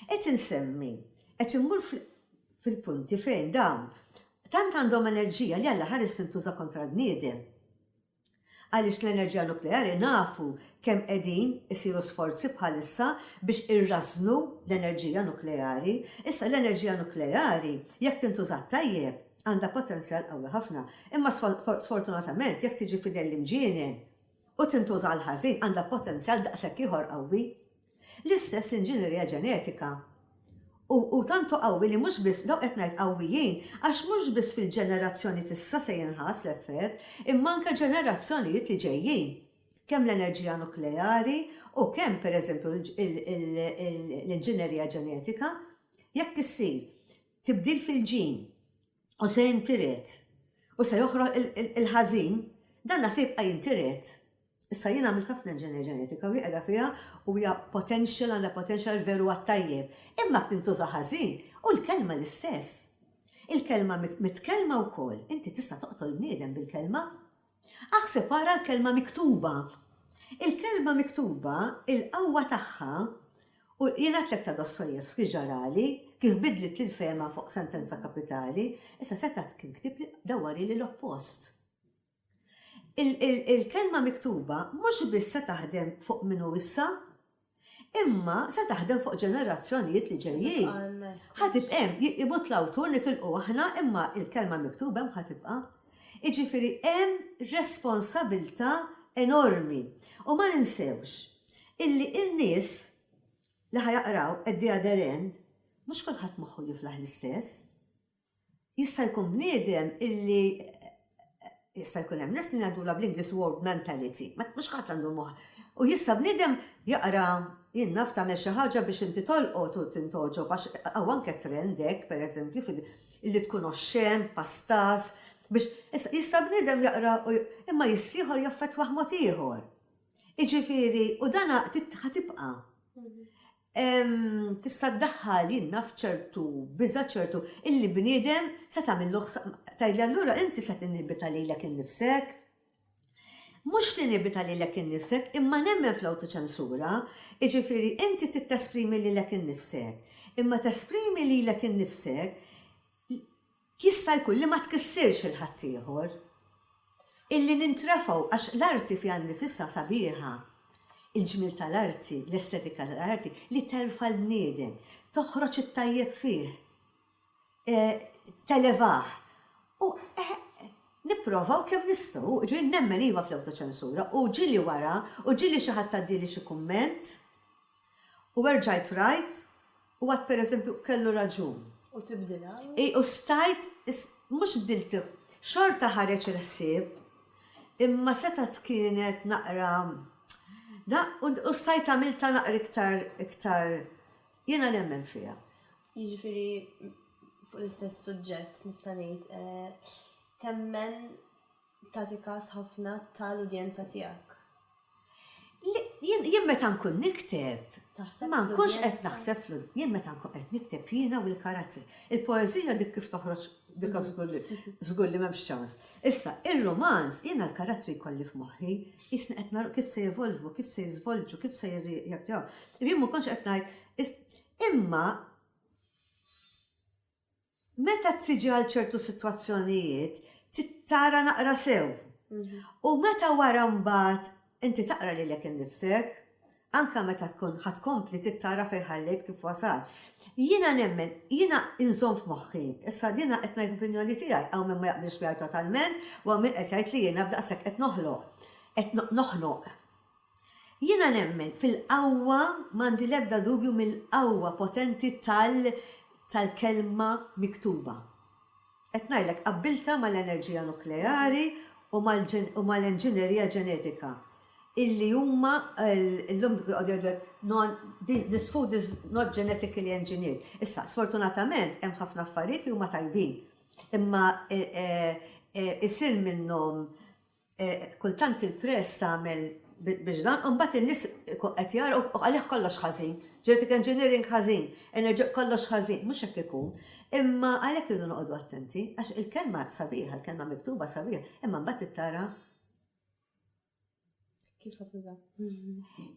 Qed insemmi, qed immur fl, fil-punti fejn dawn tant għandhom enerġija li għall-aħħar is tintuża kontra l-bniedem. Għaliex l-enerġija nukleari nafu kemm qegħdin isiru sforzi bħalissa biex irrażżnu l-enerġija nukleari. Issa l-enerġija nukleari jekk tintuża tajjeb għandha potenzjal qawwi ħafna, imma sfortunatament jekk tiġi f'idejn l-imġienen u tintuża għall-ħażin għandha potenzjal daqshekk ieħor qawwi. L-istess l-inġinerija ġenetika. U hu tantu qawwi li mhux biss, dawk qed ngħid qawwijin għax mhux biss fil-ġenerazzjoni t'issa se jinħass l-effett, imma anke ġenerazzjonijiet li ġejjin. Kemm l-enerġija nukleari u kemm, per eżempju, l-inġinerija ġenetika, jekk issir tibdil fil-ġin u se jintiret u se joħroq il-ħażin, danna se jibqa' jintiret. Issa jien għamilt ħafna engineer ġenetika u hi qiegħda fiha u hija potential għandha potential veru għat-tajjeb. Imma jekk tintuża ħażin, hu l-kelma l-istess. Il-kelma mitkellma wkoll, inti tista' toqtol bniedem bil-kelma. Aħseb ara l-kelma miktuba. Il-kelma miktuba, il-qawwa tagħha, u jien għedtlek ta' Dostoevsky ġarali, kif bidlitli l-fehma fuq Sentenza Kapitali, issa setgħet kien ktiebli dawwarili l-oppost. Il-kelma miktuba mhux biss se taħdem fuq min hu issa, imma se taħdem fuq ġenerazzjonijiet li ġejjin. Ħa tibqa' hemm, imut l-awtur nitilqu aħna, imma il-kelma miktuba hemm ħa tibqa'. Jiġifieri hemm responsabilità enormi. U ma ninsewx illi n-nies li ħa jaqraw at the other end mhux kulħadd moħħu jiflaħ l-istess. Jista' jkun bniedem illi jista' jkun hemm nies li ngħidulha bl-Ingliż world mentality. Mhux kulħadd għandu l-moħħ. U jista' bniedem jaqra, jien naf, tagħmel xi ħaġa biex inti tolqot u tintgħoġob għax hawn anke trend hekk, pereżempju, illi tkun oxxen, pastas, biex. Issa, jista' bniedem jaqra u imma jissieħor jaffettwah mod ieħor. Jiġifieri, u dan ħa tibqa'. tista' ddaħħal jiena f'ċertu biża' ċertu illi bniedem se tagħmillu tgħidli allura inti se tinibita lilek innifsek. Mhux tinibita lilek innifsek imma nemmen fl-awtoċensura, jiġifieri inti tittesprimi lilek innifsek, imma tesprimi lilek innifsek Jista' jkun li ma tkissirx lil ħaddieħor. Illi nintrefgħu għax l-arti fiha nnifisha sabiħa. Il-ġmiel tal-arti, l-estetika tal-arti li terfa' l-bniedem, toħroġ it-tajjeb fih, televah. U eħe, nipprovaw kemm nistgħu. Jiġifieri nemmen iva fl-awtoċensura u ġieli wara u ġieli xi ħadd għaddieli xi kumment, U erġajt rajt u għadt pereżempju kellu raġun. U tibdilha. I u stajt mhux bdiltha, xorta ħareġ il-ħsieb imma setgħet kienet naqra u stajt għamiltha naqra iktar iktar jiena nemmen fiha. Jiġifieri fuq l-istess suġġett nista' ngħid temmen tagħti kas ħafna ta' l-udjenza tiegħek. Jien, jien meta nkun nikteb, ma nkunx qed naħseb fl-, jien meta nkun qed nikteb jiena u l-karattri. Il-poeżija dik kif toħroġ dik żgur li, żgur li m'hemmx ċans. Issa, ir-rumanz jiena l-karattri jkolli f'moħħi, qisni qed nara kif se jevolvu, kif se jiżvolġu, kif se jirreaktjaw. Jien ma nkunx qed ngħid, imma, Meta tiġi għal ċertu sitwazzjonijiet tara naqra sew. U meta wara mbagħad inti taqra lilek innifsek, anke meta tkun ħa tkompli tittara fejn ħallejt kif wasalt. Jiena nemmen, jiena inżomm f'moħħi, issa din qed ngħid l-opinjoni tiegħi, hawn min ma jaqbilx miegħi totalment u hawn min qed jgħid li jiena b'daqshekk qed noħloq, qed noħnoq. Jiena nemmen fil-qawwa, m'għandi l-ebda dubju mill-qawwa potenti tal tal-kelma miktuba. Qed ngħidlek qabbiltha mal-enerġija nukleari u mal u mal-enġinerija ġenetika illi huma llum dak li jqogħdu jgħidu hekk non this food is not genetically engineered. Issa, sfortunatament hemm ħafna affarijiet li huma tajbin imma isir minnhom Kultant il-press tagħmel biex dan u mbagħad in-nies ikun qed jara u għalih kollox ħażin. Genetic engineering ħażin, enerġi kollox ħażin, mhux hekk ikun. Imma għalhekk irridu noqogħdu attenti għax il-kelma sabiħa, il-kelma miktuba sabiħa, imma mbagħad trid tara kif ħadd tuża.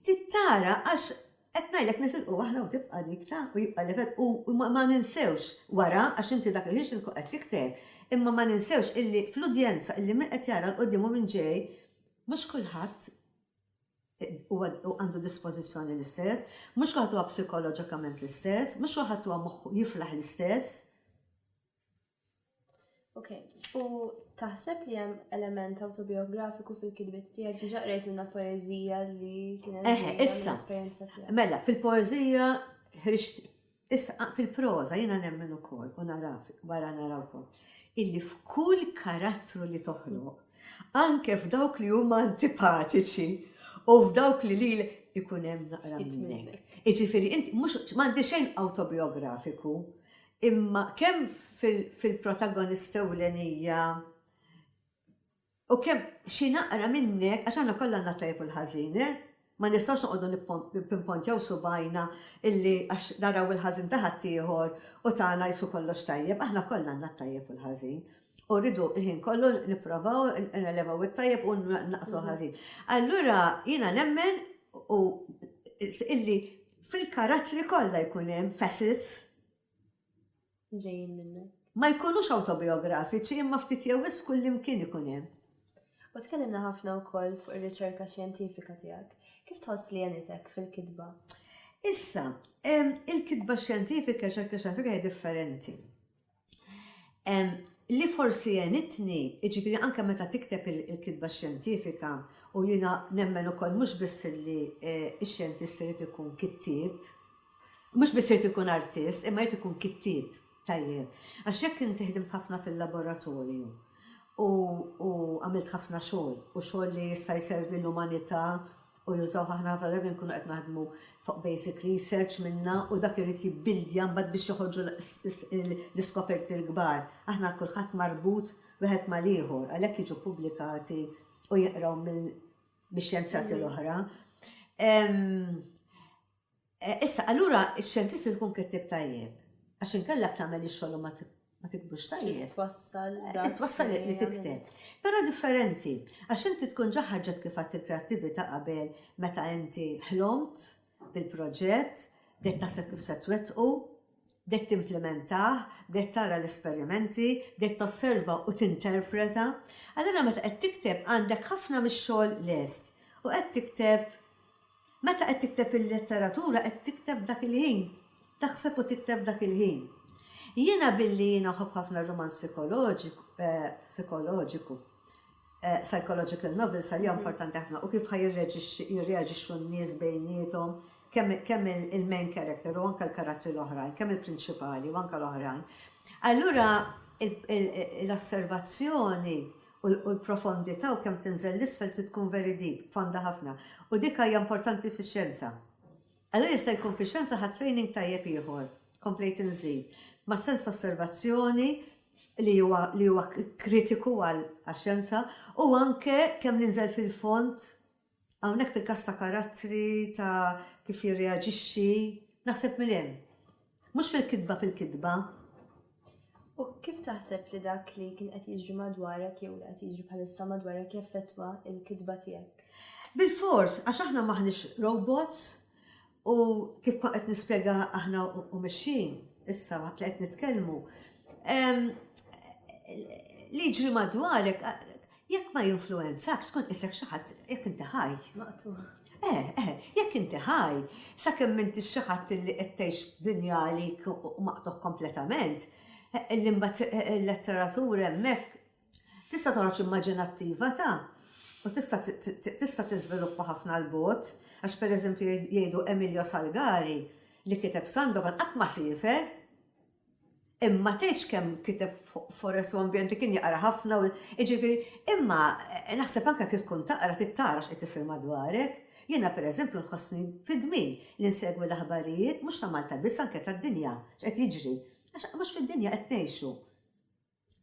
Trid tara għax Qed ngħidlek nitilqu aħna u tibqa' dik ta' u jibqa' l-effett u ma ninsewx wara għax inti dak il-ħin x'int tkun qed tikteb imma ma ninsewx illi fl-udjenza illi min qed jara 'l quddiem u min ġej mhux kulħadd huwa għandu dispożizzjoni l-istess, mhux kulħadd huwa psikoloġikament l-istess, mhux kulħadd huwa moħħu jiflaħ l-istess. Ok, u taħseb li hemm element autobiografiku fil-kidbiet tiegħek diġà qrejt minna poeżija li kienet Eħe, issa. Mela, fil-poeżija ħriġt issa fil-proża jiena nemmen ukoll u naraf wara narawkom illi f'kull karattru li toħloq, anke f'dawk li huma antipatiċi u f'dawk li lil ikun hemm naqra minnek. Iġifieri inti mhux m'għandi xejn autobiografiku, Imma kemm fil-protagonista ewlenija u kemm xi naqra minnek, għax aħna kollha għandna t-tajjeb u l-ħażin, eh? Ma nistgħux noqogħdu nippimpontjaw subgħajna illi għax naraw il-ħażin ta' ħaddieħor u tagħna qisu kollox tajjeb, aħna kollha għandna t-tajjeb u l-ħażin. U rridu l-ħin kollu nipprovaw nelevaw it-tajjeb u nnaqqsu l-ħażin. Allura jiena nemmen illi fil-karattri kollha jkun hemm facets, ġejjin minnek. Ma jkunux awtobijografiċi imma ftit jew wisq kullimkien ikun hemm. U tkellimna ħafna wkoll fuq ir-riċerka xjentifika tiegħek. Kif tħoss li għenitek fil-kitba? Issa, il-kitba xjentifika, riċerka xjentifika hija differenti. Li forsi għenitni, jiġifieri anke meta tikteb il-kitba xjentifika u jiena nemmen ukoll mhux biss li x-xjentist irid ikun kittieb, Mhux biss irid ikun artist imma jrid ikun kittieb tajjeb. Għax jekk inti ħdimt ħafna fil-laboratorju u u għamilt ħafna xogħol u xogħol li jista' jservi l-umanità u jużawh aħna ħafna drabi nkunu qed naħdmu fuq basic research minna u dak irid jibbildja mbagħad biex joħorġu l-iskoperti l-kbar. Aħna kulħadd marbut wieħed mal-ieħor għalhekk jiġu ppubblikati u jinqraw mill-xjenzjati l-oħra. Issa, allura x-xjentisti tkun kittib tajjeb. Għax inkella tagħmel ix-xogħol ma tiktbux tajjeb. Twassal. Twassal li tikteb. Però differenti, għax inti tkun ġaħħarġet kif għat il-kreattività qabel meta inti ħlomt bil-proġett, bdejt taħseb kif se twettqu, bdejt timplementah, bdejt tara l-esperimenti, bdejt tosserva u tinterpreta. Allura meta qed tikteb għandek ħafna mix-xogħol lest u qed tikteb meta qed tikteb il-letteratura qed tikteb dak il-ħin. Taħseb u tikteb dak il-ħin. Jiena billi jiena ħobb ħafna r-rumanz psikoloġiku, eh, psychological novels għalija importanti ħafna u kif ħa jirreaġixxu n-nies bejniethom kemm il-main character u anke l-karattri l-oħrajn, kemm il-prinċipali u anke l-oħrajn. Allura l-osservazzjoni u l-profondità u kemm tinżel 'l isfel trid tkun very deep, fonda ħafna. U dik hija importanti fix-xjenza. Allura jista' jkun fix-xjenza ħadt training tajjeb ieħor, komplejt inżid, mas-sens ta' osservazzjoni li huwa li huwa kritiku għax-xjenza u anke kemm ninżel fil-fond hawnhekk fil-każ ta' karattri, ta' kif jirreaġixxi, naħseb minn hemm. Mhux fil-kitba fil-kitba. U kif taħseb li dak li kien qed jiġri madwarek jew li qed jiġri bħalissa madwarek jaffettwa l-kitba tiegħek? Bil-fors, għax aħna m'aħniex robots u kif kont qed nispjega aħna u mexxin issa waqt li qed nitkellmu, li jiġri madwarek Jekk ma jinfluwenzakx tkun qisek xi ħadd jekk inti ħaj. Maqtugħ. Eh, eh, jekk inti ħaj, sakemm m'intix xi ħadd li qed tgħix f'dinja għalik u maqtugħ kompletament, li imbagħad il-letteratura hemmhekk tista' toħroġ immaġinattiva ta' u tista' tista' tiżviluppa ħafna 'l bogħod għax pereżempju jgħidu Emilio Salgari li kiteb Sandokan qatt ma siefer. Imma tgħidx kemm kiteb fuq forest u ambjent li kien jaqra ħafna u jiġifieri, imma eh, naħseb anke kif tkun taqra trid tara x'qed isir madwarek. Jiena pereżempju nħossni fid-dmir li nsegwi l-aħbarijiet mhux ta' Malta biss anke tad-dinja x'qed jiġri. Għax mhux fid-dinja qed ngħixu.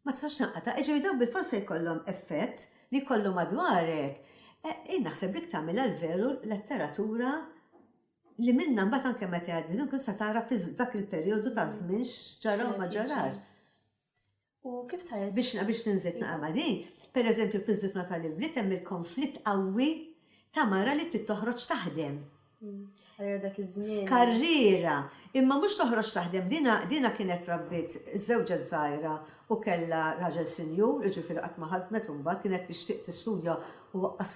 Ma tistax tinqata', jiġifieri dawk bilfors se jkollhom effett li jkollu madwarek. Jien naħseb dik tagħmilha l-veru letteratura li minnha mbagħad anke meta jgħaddi tkun se tara f'dak il-perjodu ta' żmien x'ġara u ma ġarax. U kif sa Biex biex tinżid naqra ma' din, pereżempju fiż-żifna tal-ibliet hemm il-konflitt qawwi ta' mara li trid toħroġ taħdem. F'karriera, imma mhux toħroġ taħdem dina dina kienet rabbiet żewġet żgħira u kellha raġel sinjur, jiġifieri qatt ma ħadmet imbagħad kienet tixtieq tistudja u waqqas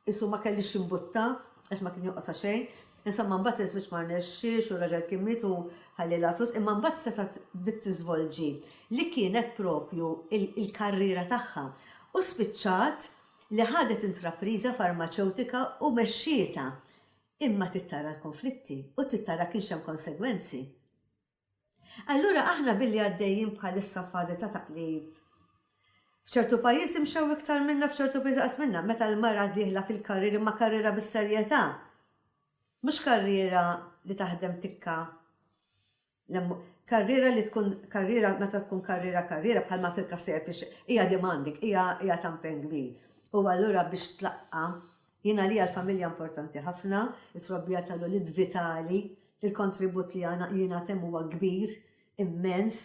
qisu ma kellix x'imbuttha għax ma kien jonqosha xejn. Insomma mbagħad iż-żwieġ ma rnexxiex u r-raġel kien miet u ħallielha l-flus imma mbagħad setgħet bdiet tiżvolġi li kienet propju l-karriera tagħha u spiċċat li ħadet intrapriża farmaċewtika u mexxietha, imma trid tara l-konflitti u trid tara kienx hemm konsegwenzi. Allura aħna billi għaddejjin bħalissa f'fażi ta' taqlib. F'ċertu pajjiżi mxew iktar minna f'ċertu pajjiżi inqas minna, meta l-mara dieħla fil-karriera imma karriera bis-serjetà, mhux karriera li taħdem tikka. Karriera li tkun karriera meta tkun karriera karriera bħalma fil-każ tiegħi fiex hija demanding, hija hija ta' impenn kbir. U allura biex tlaqqa' jien għalija l-familja importanti ħafna, it-trobbija tal-ulied vitali, il-kontribut li jingħad hemm huwa kbir, immens,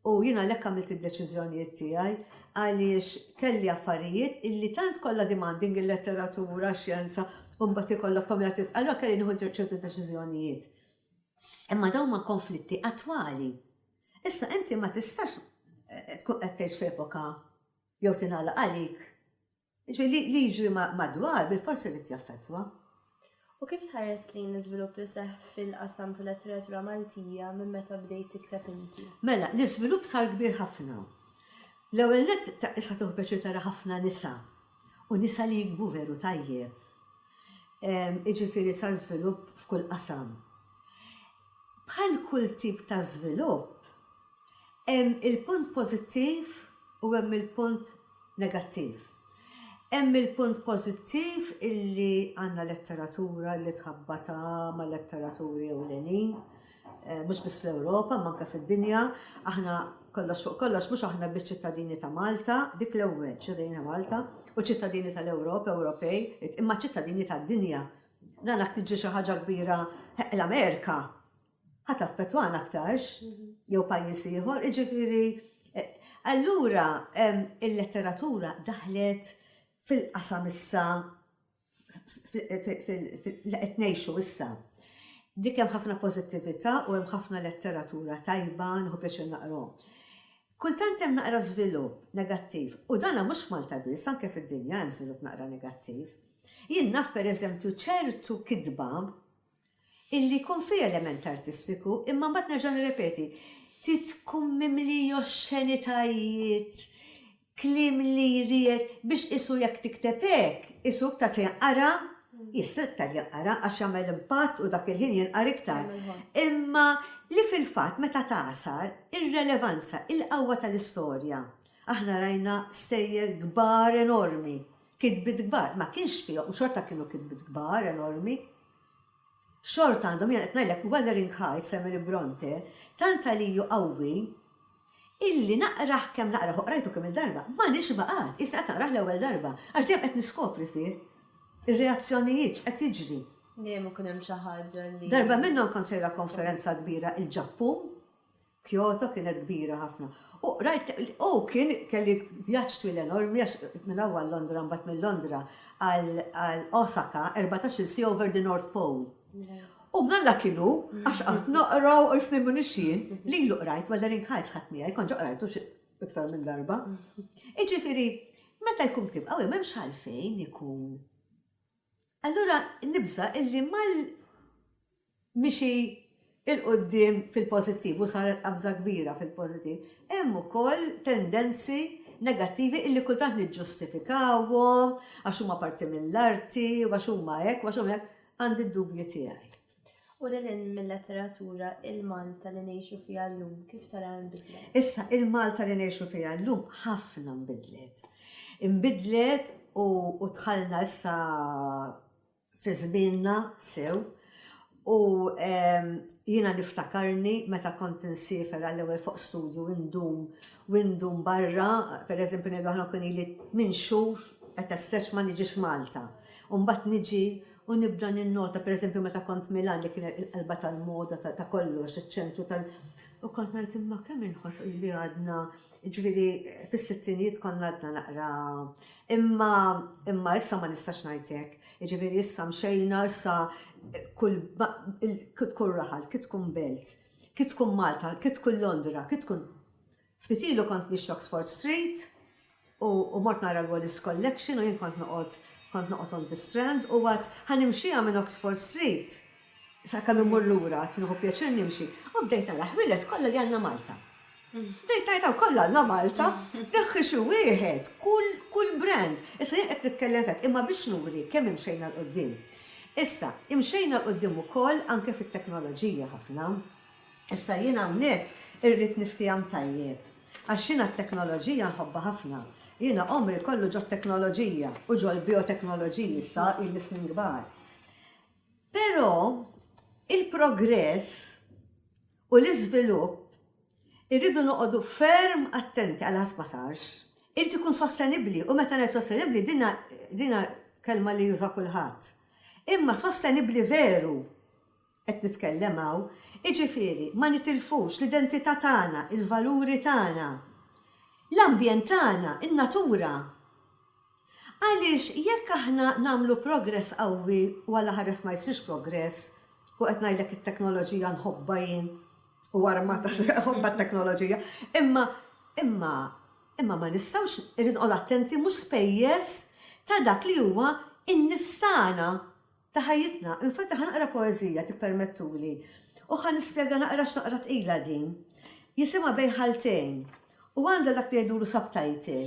u jien għalhekk għamilt id-deċiżjonijiet tiegħi għaliex kelli affarijiet illi tant kollha demanding il-letteratura, x-xjenza, u mbagħad ikollok familja trid, allura kelli nieħu ċertu deċiżjonijiet. Imma dawn huma konflitti attwali. Issa inti ma tistax tkun qed tgħix f'epoka jew tingħalaq għalik. Ġifieri li, li jiġri madwar bil-forsi jrid jaffettwa. U kif tħares lejn l-iżvilupp li seħħ fil-qasam tal-letteratura Maltija minn meta bdejt tikteb inti? Mela, l-iżvilupp sar kbir ħafna. L-ewwel nett, issa tieħu pjaċir tara ħafna nisa U nisa li jiktbu veru tajjeb. Jiġifieri sar żvilupp f'kull qasam. Bħal kull tip ta' żvilupp, hemm il-punt pożittiv u hemm il-punt negattiv. Hemm il-punt pożittiv illi għandna letteratura li tħabbatha ma' letteraturi ewlenin, mhux biss fl-Ewropa imma anke fid-dinja, aħna kollox fuq kollox mhux aħna biss ċittadini ta' Malta, dik l-ewwel, ċittadini ta' Malta, u ċittadini tal-Ewropa, Ewropej, imma ċittadini tad-dinja. Dan jekk tiġri xi ħaġa kbira l-Amerika ħa taffettwana aktarx jew pajjiż ieħor, jiġifieri allura il-letteratura daħlet fil-qasam issa li qed ngħixu issa. Dik hemm ħafna pożittività u hemm ħafna letteratura tajba nieħu pjaċir naqrhom. Kultant hemm naqra żvilupp negattiv u dan mhux f'Malta biss, anke fid-dinja hemm żvilupp naqra negattiv. Jien naf pereżempju ċertu kitba illi jkun fih element artistiku, imma mbagħad nerġa' nirrepeti, trid tkun mimli oxxenitajiet, kliem li jriegħed biex qisu jekk tikteb hekk, qisu iktar se jinqara, jista' iktar jinqara għax jagħmel impatt u dak il-ħin jinqara iktar. Imma li fil-fatt meta tagħsar, ir-relevanza, il-qawwa tal-istorja. Aħna rajna stejjer kbar enormi, kitbiet kbar, ma kienx fihom, xorta kienu kitbiet kbar enormi, Xorta għandhom, jiena qed ngħidlek Wuthering Heights t'Emily Brontë, tant għalij hu qawwi, illi naqrah kemm naqrah u qrajtu kemm-il darba, ma nixba qatt, qisni qatt naqrah l-ewwel darba, għax dejjem qed niskopri fih ir-reazzjonijiet, x'qed jiġri. Dejjem ikun hemm xi ħaġa li. Darba minnhom kont sejra konferenza kbira il-Ġappun. Kyoto kienet kbira ħafna. U rajt, u kien kelli vjaġġ twil enormi għax minn hawn għal Londra mbagħad minn Londra għal Osaka, erbatax-il siegħa over the North Pole. U mnalla kien hu għax qatt noqra u isni m'iniex jien, lilu qrajt Wuthering Heights ħadt miegħi, kont ġa qrajtu xi iktar minn darba. Jiġifieri, meta jkun ktieb qawwi m'hemmx għalfejn ikun Allura nibża' illi mal mixi 'l quddiem fil-pożittiv u saret qabża kbira fil-pożittiv, hemm ukoll tendenzi negattivi illi kultant niġġustifikawhom għax huma parti mill-arti u għax huma hekk u għax huma hekk, għandi d-dubji tiegħi. U lil hinn mil-letteratura, il-Malta li ngħixu fiha llum kif taraha nbidlet? Issa, il-Malta li ngħixu fiha llum ħafna nbidlet. Inbidlet u dħalna issa fi żmienna sew u jiena niftakarni meta kont insiefer għall-ewwel fuq studju indum u indum barra, pereżempju ngħidu aħna kien ili tmien xhur qed essex ma niġix Malta. U mbagħad niġi U nibda ninnota, per eżempju, meta kont Milan li kienet il-qalba tal-moda ta' kollox, iċ-ċentru tal- U kont ngħid imma kemm inħoss li għadna, ġifieri fis-sittinijiet konna għadna naqra. Imma imma issa ma nistax ngħid hekk. Ġifieri issa mxejna, issa kull kif tkun raħal, kif tkun belt, kif tkun Malta, kif tkun Londra, kif tkun. Ftit ilu kont nixtri Oxford Street u u mort nara l-Wallace Collection u jien kont noqgħod kont noqgħod on the Strand u għadt ħa nimxiha minn Oxford Street sakemm immur lura għadt nieħu pjaċir nimxi u bdejt nara ħwieles kollha li għandna Malta. Bdejt ngħid hawn kollha għandna Malta! Neħħi xi wieħed, kull kull brand! Issa jien qed nitkellem f'hekk imma biex nuri kemm imxejna 'l quddiem. Issa, imxejna 'l quddiem ukoll anke fit-teknoloġija ħafna. Issa jien hawnhekk irrid niftieham tajjeb. Għax jiena t-teknoloġija nħobbha ħafna. Jiena għomri kollu ġot-teknoloġija u ġol-bioteknoloġiji issa ili snin kbar. Però il-progress u l-iżvilupp irridu noqogħdu ferm attenti għal ħass ma sarx. Irid ikun sostenibbli u meta ngħid sostenibbli din din kelma li juża kulħadd. Imma sostenibbli veru. qed nitkellem hawn, jiġifieri ma nitilfux l-identità tagħna, il-valuri tagħna, l-ambjent tagħna, in-natura. Għaliex jekk aħna nagħmlu progress qawwi u għal ħares ma jsirx progress, u qed ngħidlek it-teknoloġija nħobbha jien u armata nħobb għat-teknoloġija, imma imma imma ma nistgħux irrid noqgħod attenti mhux spejjeż ta' dak li huwa n-nifs tagħna. Ta' ħajjitna. Infatti ħa naqra poeżija, tippermettuli, u ħa nispjega naqra x'naqra tqila din. Jisimha Bejn Ħaltejn, u għandha dak li jgħidulu subtitle,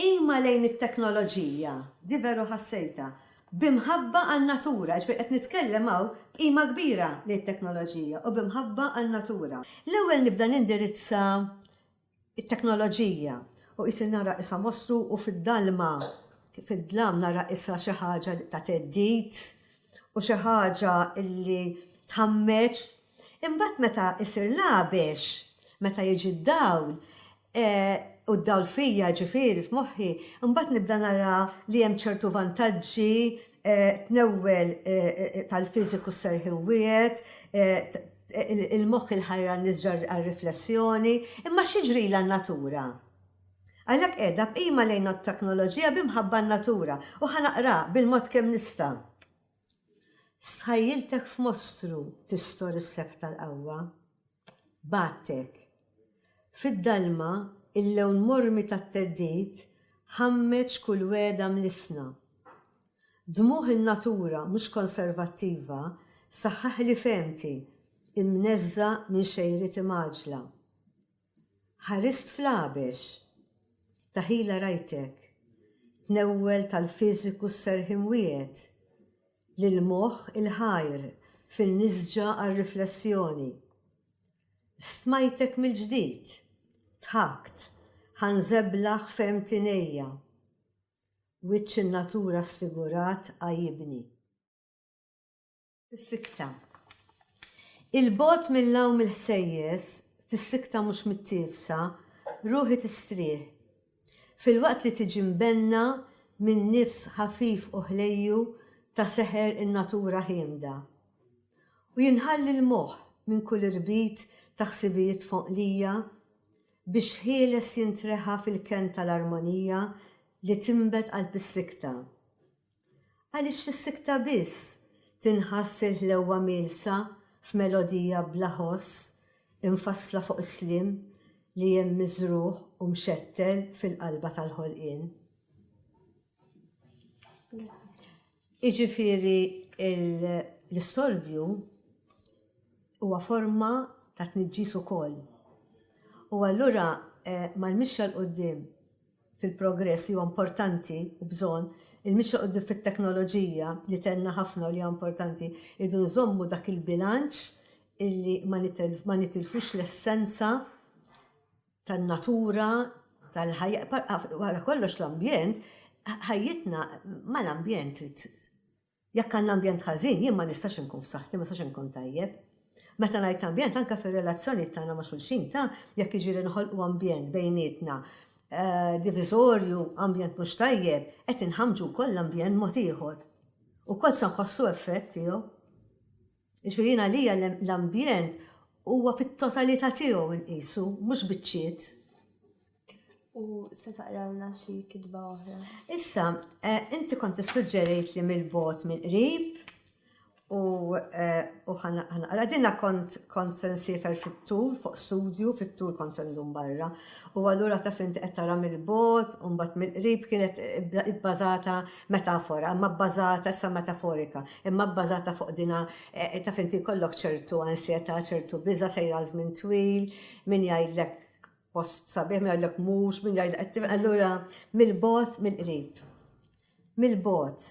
B'qima lejn it-teknoloġija, di veru ħassejtha, b'imħabba għan-natura, jiġifieri qed nitkellem hawn b'qima kbira lejn it-teknoloġija u b'imħabba għan-natura. L-ewwel nibda nindirizza it-teknoloġija u qisni nara qisha mostru u fid-dalma fid-dlam nara qisha xi ħaġa ta' theddid u xi ħaġa li tħammeġ. Imbagħad meta jsir l-għabex, meta jiġi d-dawl, u d-dawl fija ġifieri f'moħħi, imbagħad nibda nara li hemm ċertu vantaġġi, tnewwel tal-fiżiku s-serħien wiegħed, Il-moħħ il-ħajra n-nisġa għar-riflessjoni, imma x'jiġrila n-natura? Għalhekk qiegħda b'qima lejn ot-teknoloġija bi mħabba n-natura, u ħa naqra bil-mod kemm nista'. Stħajjiltek f'mostru tistor is-sefħ tal-qawwa. Bgħattek. Fid-dalma, il-lewn mormi tat-theddid ħammeġ kull wegħda mlissna. Dmugħ in-natura mhux konservattiva saħħaħli fehmti, imneżża minn xejrieti mgħaġġla. Ħarist fl-Għabex. Daħila rajtek. Tnewwel tal-fiżiku s-serħien wiegħed. Lill-moħħ il-ħajr fin-nisġa għar-riflessjoni. Stmajtek mill-ġdid. Dħakt. Ħanżeblaħ fehmti ngħejja. Wiċċ in-natura sfigurat għajjibni. Fis-sikta. Il-bogħod mill-għawm il-ħsejjes, fis-sikta mhux mittiefsa, ruħi tistrieħ. Filwaqt li tiġi mbenna minn nifs ħafif u ħlejju ta' seħer in-natura ħiemda. U jinħalli l-moħħ minn kull irbit ta' ħsibijiet fonqlija. Biex ħieles jintreħa fil-kenn tal-armonija li tinbet qalb is-sikta. Għaliex fis-sikta biss tinħass il-ħlewwa mielsa f'melodija bla ħoss imfassla fuq is-sliem li hemm miżrugħ u mxettel fil-qalba tal-ħolqien. Jiġifieri l-istorbju huwa forma ta' tniġġis ukoll. U allura mal-mixja 'l quddiem fil-progress li huwa importanti u bżonn, il-mixja 'l quddiem fit-teknoloġija li tenna ħafna u li hija importanti, irridu nżommu dak il-bilanċ illi ma nitilfux l-essenza tan-natura, tal-ħajja, wara kollox l-ambjent, ħajjitna ma l-ambjent trid. Jekk għandna ambjent ħażin, jien ma nistax inkun f'saħħti, ma nistax inkun tajjeb. Meta ngħid ambjent anke fir-relazzjoni tagħna ma' xulxin ta' jekk jiġri nħolqu ambjent bejnietna eh, diviżorju, ambjent mhux tajjeb, qed inħamġu wkoll l-ambjent mod ieħor. U kol se nħossu effett tiegħu. Jiġifieri jien għalija l-ambjent huwa fit-totalità tiegħu nqisu, mhux biċċiet. U se taqralna xi kitba oħra? Issa, eh, inti kont issuġġerejt li mill-bot mill-qrib u eh, ħanaqra dinna kont kont se nsifer fit-tul fuq studju, fit-tul kont se ndum barra. U allura taf inti qed tara mill-bot u mbagħad mill-qrib kienet ibbażata metafora, imma bbażata, issa metaforika, imma bbażata fuq dina taf inti jkollok ċertu ansjetà, ċertu biża' sejra għal żmien twil, min jgħidlek post sabiħ, min jgħidlek mhux, min jgħidlek allura mill-bogħod mill-qrib. Mill-bogħod.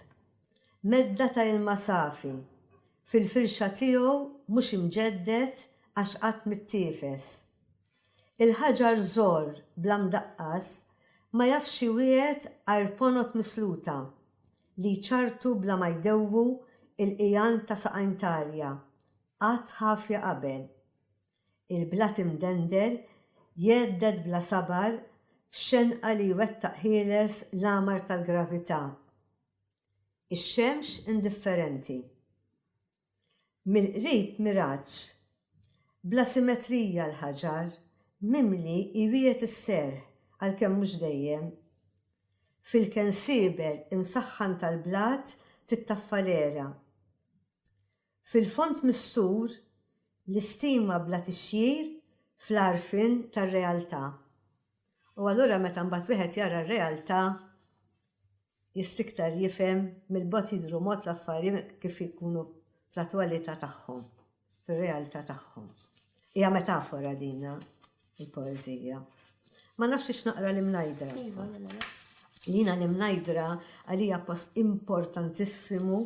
Medda ta' ilma safi fil-firxa tiegħu mhux imġedded għax qatt mittiefes. Il-ħaġar żgħor bla mdaqqas ma jafx iwiegħed għajr ponot misluta li jċarrtu bla ma jdewwu l-qigħan ta' saqajn t'għalja qatt ħafja qabel. Il-blat imdendel jgħedded bla sabar f'xenqa li jwettaq ħieles l-għamar tal-gravità. Ix-xemx indifferenti. Mill-qrib miraġġ bla simetrija l-ħaġar mimli jwiegħed is-serħ għalkemm mhux dejjem. Fil-kensieber imsaħħan tal-blat tittaffa l-għera. Fil-fond mistur l-istima bla tixjir fl-għarfien tar-realtà. U allura meta mbagħad wieħed jara r-realtà jista' iktar jifhem mill-bogħod jidhru mod l-affarijiet kif ikunu fl-attwalità tagħhom, fir-realtà tagħhom. Hija metafora dina il-poeżija. Ma nafx ix naqra l-imnajdra. Iva, mela. Jina l-imnajdra għalija post importantissimu,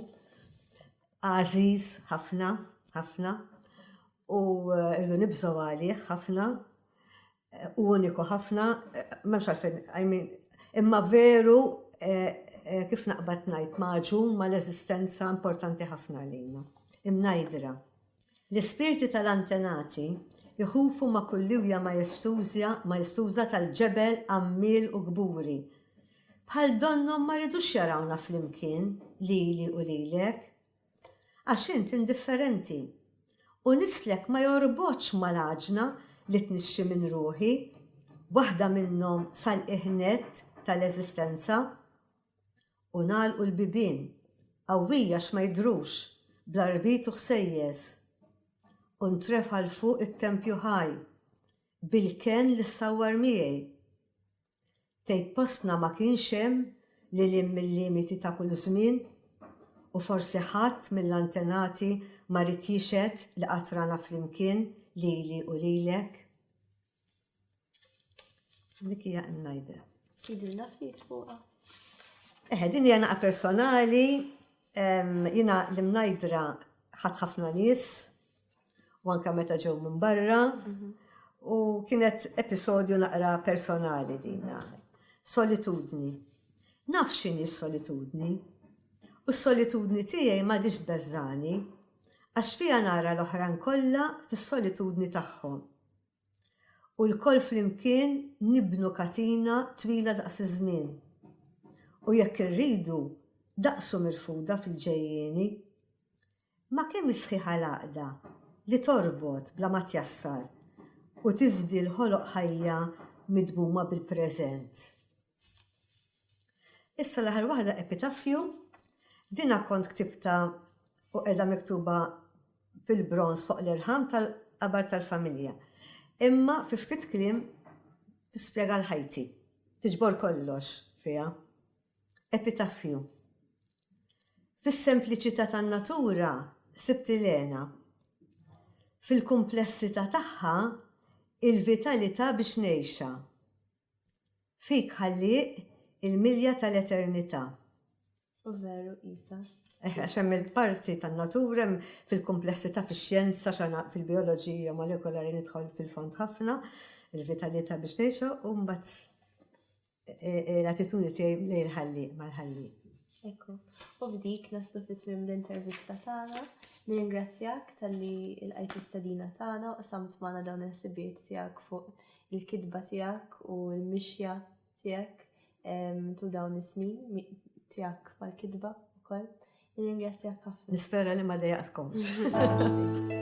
għażiż ħafna, ħafna, u eh, rridu nibżgħu għalih ħafna. u uniku ħafna, memx għalfejn, I mean, imma veru eh, eh, kif naqbad najt maġun ma l-eżistenza importanti ħafna għalina. Imnajdra. L-ispirti tal-antenati jħufu ma kulliwja ma jistużja ma jistuża tal-ġebel għammil u gburi. Bħal donnom ma ridux jarawna fl-imkien li li u lilek, Għax int indifferenti. U nislek ma jorbotx mal-għaġna li tnixxi minn ruħi, waħda minnhom sal-qiegħ nett tal-eżistenza. U ngħalqu l-bibien, qawwija għax ma jidhrux, bl-għarbit u ħsejjes. U ntrefa' 'l fuq it-tempju ħaj, bil-kenn li ssawwar miegħi. Tgħid postna ma kienx hemm lil hinn mil-limiti ta' kull żmien? U forsi ħadd mill-antenati ma ried jixhed li qatt rana flimkien lili u lilek? Dik hija n-najdra. Tgħidilna ftit fuqha? Eħe, din hija naqa personali, jiena l-imnajdra ħadd ħafna nies, u anka meta ġew minn barra u kienet episodju naqra personali dina. Solitudni. Naf xini solitudni. U s-solitudni tiegħi ma dix bezzani, għax fija nara l-oħran kollha fis-solitudni tagħhom. U l-koll flimkien nibnu katina twila daqs iż-żmien. U jekk irridu, daqsu mirfuda fil-ġejjieni. Ma' kemm hi sħiħa l-għaqda li torbot bla ma tjassar u tifdi l-ħoloq ħajja midmuma bil-preżent. Issa l-aħħar waħda Epitaffju, dinha kont ktibtha u qiegħda miktuba fil-bronż fuq l-irħam tal-qabar tal-familja. Imma fi ftit kliem tispjega l-ħajti, tiġbor kollox fiha. Epitaffju. Fis-sempliċità tan-natura sibt il-hena. Fil-kumplessità tagħha, il-vitalità biex ngħixha. Fik, Ħallieq, il-milja tal-eternità. U veru qisha. Eh, għax hemm il-parti tan-natura, hemm fil-kumplessità fix-xjenza, fil-bioloġija molekolari nidħol fil-fond ħafna, il-vitalità biex ngħixha, u mbagħad l-attitudni tiegħi lejn il-ħalliq mal-ħalliq. Ekku, u b'dik naslu fit tmiem l-intervista tagħna. Nirringrazzjak tal-li l-qajt l-istadina tagħna u qsamt magħna dawn il-ħsibijiet tiegħek fuq il-kitba tiegħek u l-mixja tiegħek tu dawn is-snin tiegħek mal-kitba wkoll. Nirringrazzjak ħafna. Nispera li ma dejaqtkomx.